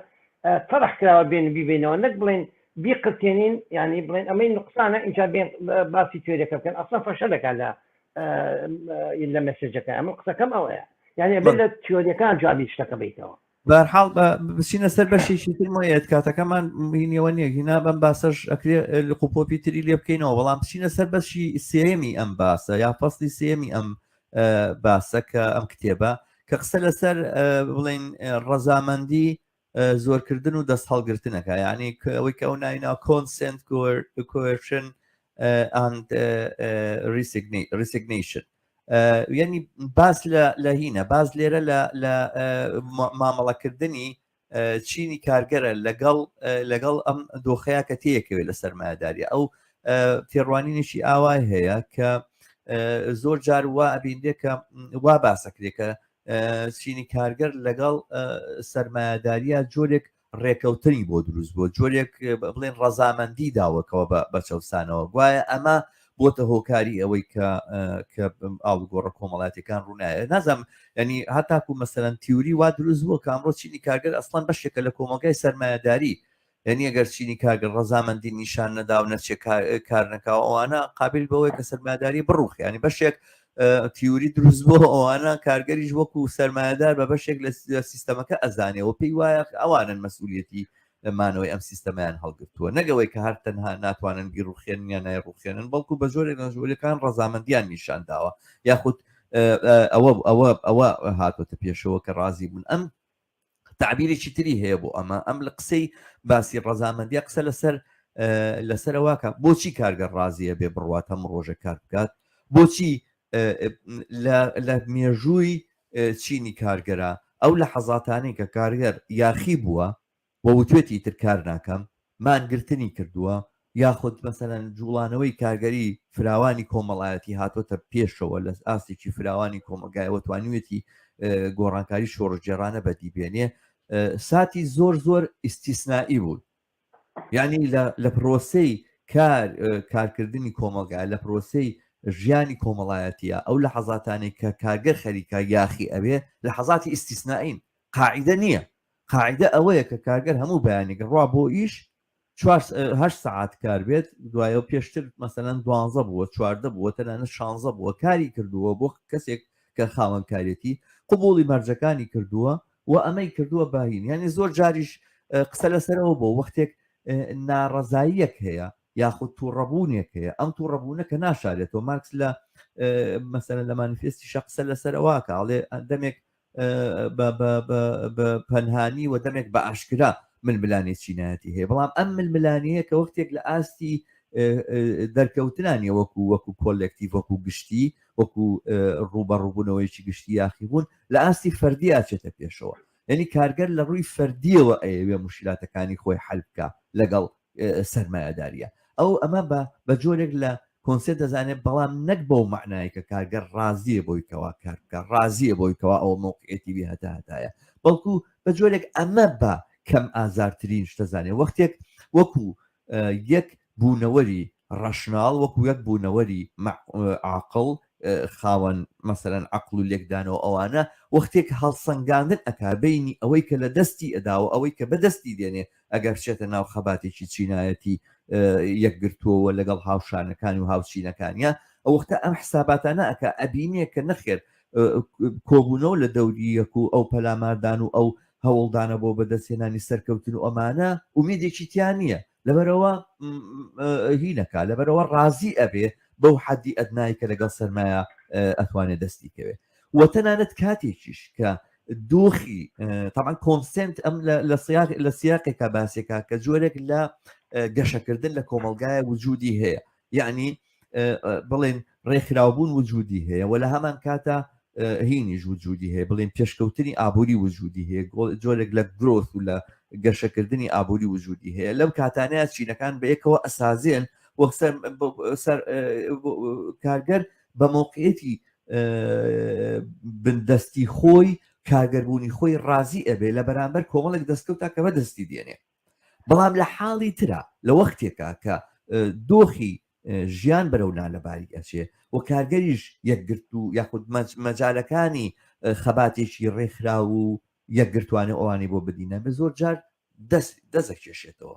تەرح کراوە بێن بیبینەوە نەک بڵێن بیقرتێنین ینی بڵێن ئەمەی نقصانە اینجا بێن باسی توێرەکە بکەن ئەسا فەشە دەکات لە لە مەسجەکە ئەمە قسەکەم ئەوەیە یعنی بێت لە تیۆریەکان جوابی شتەکە بیتەوە بەرحاڵ بچینە سەر بەشێکی تر مۆیەت کاتەکەمان مینەوە نیە هینا بەم باسەش ئەکرێ لە قوپۆپی تری لێ بکەینەوە بەڵام بچینە سەر بەشی سێمی ئەم باسە یا فەستی سێمی ئەم باسە کە ئەم کتێبە کە قسە لەسەر بڵین ڕەزامەندی زۆرکردن و دەست هەڵگرتنەکە یعنی ئەوەی کە ئەو ناینا کۆنسنت کوێشن ریسیگنیشن یعنی باس لە هینە باز لێرە لە مامەڵەکردنی چینی کارگەرە لەگەڵ لەگەڵ ئەم دۆخەیە کە تەیەکەوێت لە سەرمایهداری ئەو تێڕوانینێکی ئاوای هەیە کە زۆر جار وا ئەبیندێکە وا باسەکرێکە چینی کارگەر لەگەڵ سەرمایهداریە جۆرێک ڕێکەوتنی بۆ دروست بووە، جۆرێک بڵێن ڕەزامەندی داوەکەوە بە چەوسانەوە، گوایە ئەمە بۆتە هۆکاری ئەوەی کە کە ئاڵوگۆڕە کۆمەڵاتەکان ڕوونایە نازم ینی هاتاکو مەسەرەن تیوری وا دروست بووە کامڕۆ چینی کارگەر ئەسڵان بەشێکە لە کۆمەلگای سەرمایهداری یعنی ئەگەر چینی کارگە ڕەزامەندی نیشان نەداو نەچێ کارنەکاو ئەوانە قابل بەوەی کە سەرماداری بڕوخیانی بەشێک تیوری دروست بۆ ئەوانە کارگەریش وەکو سەرمایهدار بە بەشێک لە سیستەمەکە ئەزانەوە پێی وایە ئەوانن مەسئولەتی مانەوەی ئەم سیستەمیان هەڵگرتووە نەگەوەی کە هەر تەنها ناتوانن گیر ڕوخێنیان نای ڕوخێنن بەڵکو بە زۆرێک لە ژوورەکان ڕەزامەندیان نیشان داوە یاخود ئەوە ئەوە ئەوە هاتۆتە پێشەوە کە ڕازی بوون ئەم تەعبیرێکی تری هەیە بۆ ئەمە ئەم لە قسەی باسی ڕەزامەندی قسە لەسەر لەسەر واکە بۆچی کارگەر ڕازیە بێ بڕوات هەم ڕۆژە کار بکات بۆچی لە مێژووی چینی کارگەرە ئەو لە حەزاتانی کە کارگەر یاخی بووە وەوتێتی تر کار ناکەم مانگرتنی کردووە یاخود مەسەلەن جوڵانەوەی کارگەری فراوانی کۆمەڵایەتی هاتۆتە پێشەوە لە ئاستێکی فراوانی کۆمەلگایەوە توانیوێتی گۆڕانکاری شۆڕژگێڕانە بەدی بێنێ ساتی زۆر زۆر ئیسیسنایی بوون یعنی لە پرۆسەی کار کارکردنی کۆمەلگای لە پرۆسەی ژیانی کۆمەڵایەتە ئەو لە حەزاتانی کە کارگەر خەریکە یاخی ئەوێ لە حەزاتی ئیسیسنائین قاعدە نییە قاعیدە ئەوەیە کە کارگەر هەموو بەیانێک ڕا بۆ ئیش چوار هەشت سەعات کار بێت دوایە و پێشتر مەسەلەن دوانزە بووە چواردە بووە تەنانەت شانزە بووە کاری کردووە بۆ کەسێک کە خاوەنکارێتی قوبوڵی مەرجەکانی کردووە و ئەمەی کردووە باهین یعنی زۆر جاریش قسە لەسەرەوە بۆ وەختێک ناڕەزاییەک هەیە یاخود تووڕەبوونێک هەیە ئەم تووڕەبوونە کە ناشارێتەوە مارکس لە مەسەرە لە مانیفێستی شەقسە لەسەرەوە کاڵێ دەمێک پەنهانی و دەمێک بە ئاشکرا ململانێ چینایەتی هەیە بەڵام ئەم ململانەیە کە وەختێک لە ئاستی دەرکەوتنانی وەکو وەکو کۆلێکتی وەکو گشتی وەکو ڕوبە ڕووبوونەوەیکی گشتی یاخی بوون لە ئاستی فەردی ئاچێتە پێشەوە یعنی کارگەر لە ڕووی فەردیەوە ئەیەوێ مشکلاتەکانی خۆی حلبکە لەگەڵ سەرمایەداریە. ئەو ئەمە بە بە جۆرێک لە کۆنسێت دەزانێت بەڵام نەک بەو مەعنایە کە کارگەر ڕازیە بۆی کەوا کار بکە ڕازیە بۆی کەوا ئەو مەوقعێتی بێ هەتا هەتایە بەڵکو بە جۆرێک ئەمە بە کەم ئازارترین شتەزانێ وەختێک وەکو یەک بوونەوەری ڕەشناڵ وەکو یەک بوونەوەری عقل خاوەن مەسەرەن عقل و لێکدانەوە ئەوانە وەختێک هەڵسەنگاندن ئەک بینی ئەوەی کە لە دەستی ئەداوە ئەوەی کە بەدەستی دێنێ ئەگەر بچێتە ناو خەباتێکی چینایەتی یەکگرتووەوە لەگەڵ هاوشانەکانی و هاوچینەکانیان ئەو وەختە ئەم حساباتانە ئەکە ئەبینێ کە نەخێر کۆبوونەوە لە دەوری یەک و ئەو پەلاماردان و ئەو هەوڵدانە بۆ بەدەستێنانی سەرکەوتن و ئەمانە ئومێدێکی تیان نییە لەبەرەوە هینەکە لەبەرەوە ڕازی ئەبێ بەو حەدی ئەدنای کە لەگەڵ سەرمایە ئەتوانێت دەستی کەوێت و تەنانەت کاتێکیش کە دۆخی تاان کۆنسنت ئەم لە سیاق لە سیاقێکا باسێکا کە جۆرێک لە گەشەکردن لە کۆمەلگایە وجودی هەیە یعنی بڵێن ڕێکخراوبوون وجودی هەیە و لە هەمان کاتە هینیش وجودی هەیە بڵێن پێشکەوتنی ئابووری وجودی هەیە جۆرێک لە گرۆث و لە گەشەکردنی ئابووری وجودی هەیە لەم کاتانەیە چینەکان بەیەکەوە ئەسازێن وەک سەر کارگەر بە مۆقعیەتی بندەستی خۆی کارگەربوونی خۆی ڕازی ئەبێ لە بەرامبەر کۆمەڵێک دەستکەوتا کە بەدەستی دێنێ بەڵام لە حاڵی ترا لە وەختێکا کە دۆخی ژیان بەرەو نالەباری ئەچێ و کارگەریش یەکگرت و یاخود مەجالەکانی خەباتێکی ڕێکخرا و یەکگرتوانە ئەوانی بۆ بدینە بە زۆر جار دەست دەزەکێشێتەوە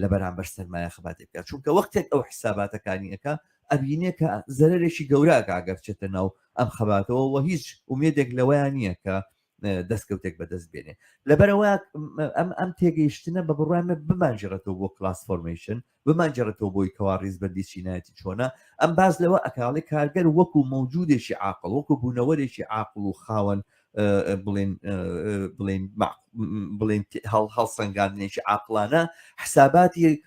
لە بەرامبەر سەرمایە خەباتی بکات چونکە وەختێک ئەو حساباتەکانیەکە ئەبینێ کە زەرێکی گەوراکە ئەگەر چێتە ناو ئەم خەباتەوە وە هیچ ومێدێک لەوەیان نییە کە دەستکەوتێک بەدەست بێنێ لەبەرەوە ئەم ئەم تێگەیشتنە بە بڕامە بمانجرێتەوە بۆ کلاس فۆرمەیشن بمانجرێتەوە بۆی کەوا ڕیزبندی چینایەتی چۆنە ئەم باز لەوە ئەکاڵی کارگەر وەکو مەوجودێکی عقل وەکو بوونەوەرێکی عقل و خاوەن بڵێن بڵێن بڵێن هەڵ هەڵسەنگاندنێکی عقلانە حساباتی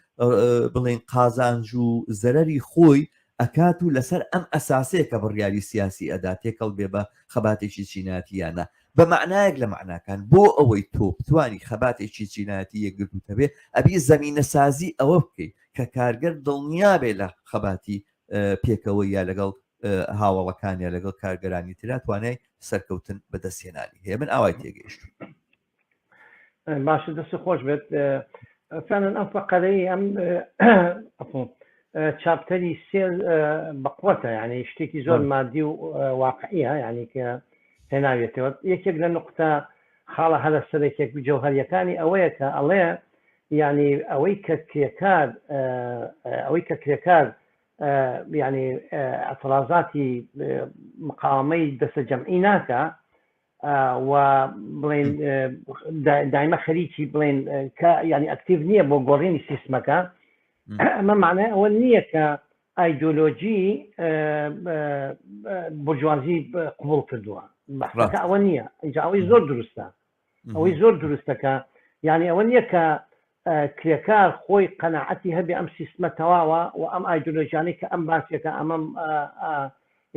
بڵێن قازانج و زەرری خۆی ئەکات و لەسەر ئەم ئەساسەیە کە بڕیاری سیاسی ئەدا تێکەڵ بێ بە خەباتێکی چیناتیانە بە معنایەک لە معناکان بۆ ئەوەی تۆ بتانی خەباتێکی چیناتی یەکگرتوتە بێ ئەبی زمینە سازی ئەوە بکەیت کە کارگەر دڵنیابێ لە خەباتی پێکەوە یا لەگەڵ هاوەڵەکانیان لەگەڵ کارگەرانی تررا توانای سەرکەوتن بەدەستهێنانی هەیە من ئاوای تێگەیشت باشە دەست خۆش بێت فعلن ئەم فەقەرەی ئەم چاپتەری سێ بەقوەتە ینی شتێکی زۆر مادی و واقعە ینی کە هێناوێتەوە یەکێک لە نقطە خاڵە هەرە سەرێکێک جەوهریەکانی ئەوەیە کە ئەڵێ ینی ئەوەی کە کرێکار ئەوەی کە کرێکار یانی ئترازاتی مقاوەمەی دەسە جەمعی ناکە و بڵین دایمە خەریکی بڵین کە ینی ئەکتیو نییە بۆ گۆڕینی سیستمەکە ئەمە معنای ئەوە نییە کە ئایدۆلۆجی برجوازی قوبول کردووە ئەوە نییە ئەوەی زۆر دروستە ئەوەی زۆر دروستەکە یعنی ئەوە نییە کە کرێکار خۆی قەنەعەتی هەبێ ئەم سیستمە تەواوە و ئەم ئایدۆلۆژیانەی کە ئەم باسێکە ئەمەم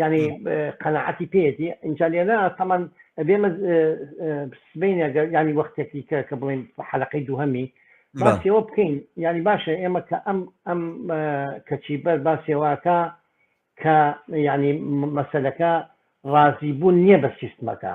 ینی قەنەعەتی پێێتی ئینجا لێرە تەمان بێمە سبینە ینی وەختێکی کە کە بڵین حەلقەی دووهەمی باسیەوە بکەین ینی باشە ئێمە کە ئەم ئەم کەچی بەر باسێواکە کە ینی مەسلەکە ڕازی بوون نییە بە سیستمەکە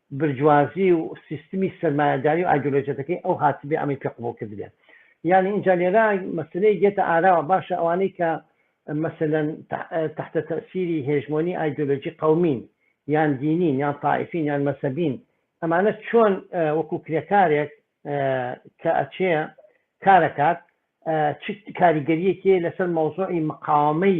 برجوازی و سیستمی سەرمایەداری و ئایدۆلۆژەتەکەی ئەو هاتبێ ئەمەی پێ قبوڵ کردبێ یانی ئینجا لێرە مەسەلەیەک دێتە ئاراوە باشە ئەوانەی کە مەسەلەن تەحتە تەئسیری هێژمۆنی ئایدۆلۆژی قەومین یان دینین یان تائیفین یان مەسەبین ئەمانە چۆن وەکو کرێکارێک کە ئەچێ کارەکات چ کاریگەریەکێ لەسەر مەوزوعی مقاومەی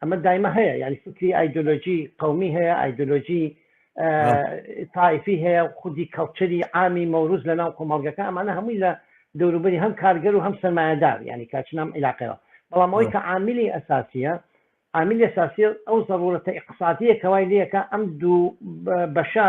ئەمە دایمە هەیە یعنی فکری ئایدۆلۆژی قومی هەیە ئایدۆلۆژی تایفی هەیە خودی کەڵچەری ئامی مەوروز لە ناو کۆمەڵگەکە ئەمانە هەمووی لە دەوروبەری هەم کارگەر و هەم سەرمایەدار ینی کاچنام عیلاقەوە بەڵام ئەوی کە عامیلی ئەساسیە عامیل ئەساسی ئەو زەڕورەتە اقتصادیە کەوای لەکە ئەم دوو بەشە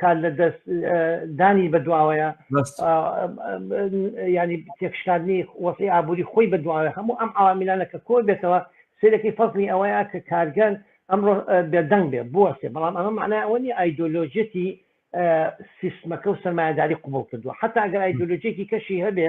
کار لە دەست دانی بەدواوەیە ینی تێکشکاندنی وەسی ئابووری خۆی بەدواوە هەموو ئەم ئاوامیلانە کە کۆ بێتەوە سێرەکەی فەزمی ئەوەیە کە کارگەن ئەمڕۆ بێدەنگ بێ بوەێ بەڵام ئەمە معنای ئەوە نیە ئایدۆلۆژێتی سیستمەکە و سەرمایهداری قوبڵ کردووە حتا ئەگەر ئایدۆلۆژێکی کەشی هەبێ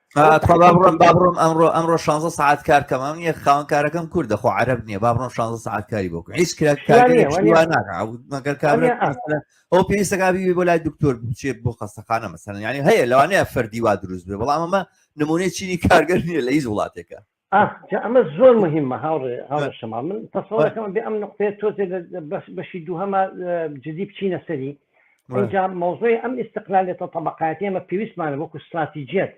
بابڕۆم ئەمڕۆ ئەمڕۆ 16 ساعت کارکەم ئەم نیە خاوەن کارەکەم کورد دەخۆ عرب نییە بابڕۆم 16 ساعت کاری بۆ هیچ ئەو پێویستەکبی بۆ لای دکتۆر بچێت بۆ خەستەخانە مەسەن ینی هەیە لەوانەیە فەردیوا دروست بێ بەڵام ئەمە نمونەی چینی کارگەر نیە لە هیچ وڵاتێکە ئاخ جا ئەمە زۆر مهمە هاوڕێ هاوڕێ بە- شەما من بە- تەسەڵەکەم بێ ئەم نقطەیە تۆزێ لە لە بەش بەشی دووهەمە اه، جدی بچینە سەری بە- ئەوجا مەوزوعی ئەم ئیستقلالێتە طبقاتی ئەمە پێویستمانە وەکو استراتیجیت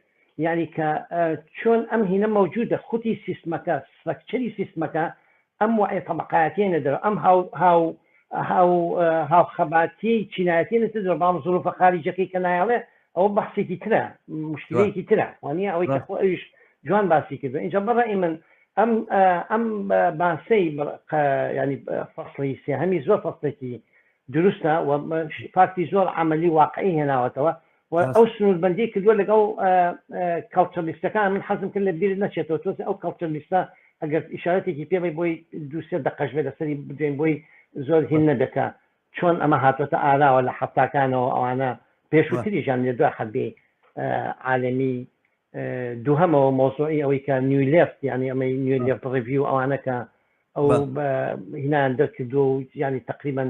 یعنی کە اه، چۆن ئەم هینە مەوجودە خوتی سیستمەکە سفەکچەری سیستمەکە ئەم وەعێ تەبەقایەتیەی نەدەرەوە، ئەم هاو هاو هاو هاوخەباتیەی چینایەتی نەدەرەوە، بەڵام زروفە خاریجەکەی کە نایەڵێ ئەوە بەحسێکی ترە، مشکلەیەکی ترە، وانیە ئەوەی کە خۆ ئەویش جوان باسی کردوە، ئینجا بەڕای من ئەم ئەم باسەی ینی فەسڵی سێهەمی زۆر فەسڵێکی دروستە و فاکتی زۆر عەمەلی واقعی هێناوەتەوە، و ئەو سنووربەندی کردووە لەگەڵ کەڵچەرلیستەکان من حەزم کرد لە بیرت نەچێتەوە تۆزێ ئەو کەڵچەرلیستە ئەگەر ئیشارەتێکی پێمەی بۆی دووسێ دەقەش بێ لەسەری بدوێن بۆی زۆر هین نەبێتە چۆن ئەمە هاتوەتە ئاراوە لە حەفتاکانەوە ئەوانە پێشووتریشان لە دو حەبی عالمی دووهمەوە مۆزۆی ئەوەی کە نیو لفت یعنی ئەمەی نیو لفت ڕوی و ئەوانەکە ئەو هینان دەرکردو و ینی تقریبان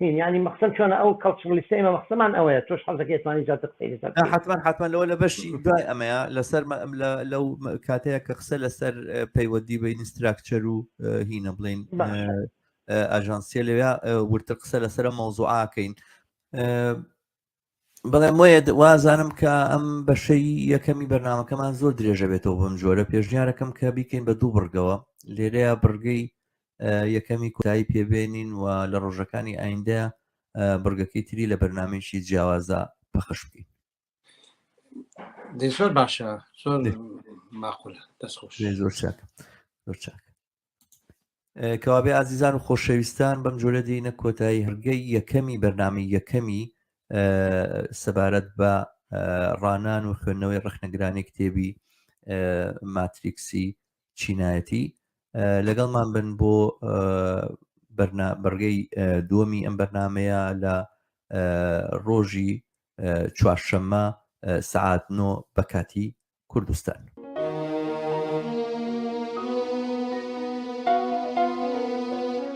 هین یانی مەخسەم چۆنە ئەو کەڵچڕلیستە ئێمە مەخسەمان ئەوەیە تۆش حەزەکە توانی زیاتر قسەی لەسەر حتمما حتمما لەوە لە بەشی دوای ئەمەیە لەسەر لەو کاتەیە کە قسە لەسەر پەیوەندی بە ئینستراکچەر و هینە بڵین ئاژانسیە لەوێ ورتر قسە لەسرە مەوزوعاکەین بڵێم وەیە وازانم کە ئەم بەشەی یەکەمی بەرنمەکەمان زۆر درێژە بێتەوە بەم جۆرە پێشنیارەکەم کە بیکەین بە دوو بڕگەوە لێرەیە بڕگەی یەکەمی کۆتایی پێبێنین و لە ڕۆژەکانی ئایندە بڕگەکەی تری لە بەرنمێکی جیاوازە پەخش بکەین زۆر باشە زۆر ماقول دەست خۆش زۆر چاک زۆر چاک کەوابێ ئازیزان و خۆشەویستان بەم جۆرە دینە کۆتایی هەرگەی یەکەمی بەرنامی یەکەمی سەبارەت بە ڕانان و خوێندنەوەی ڕخنەگرانی کتێبی ماتریکسی چینایەتی لەگەڵمان بن بۆ بەرگەی دووەمی ئەم بەرنمەیە لە ڕۆژی چوارشەممە سعات نۆ بەکاتی کوردستان.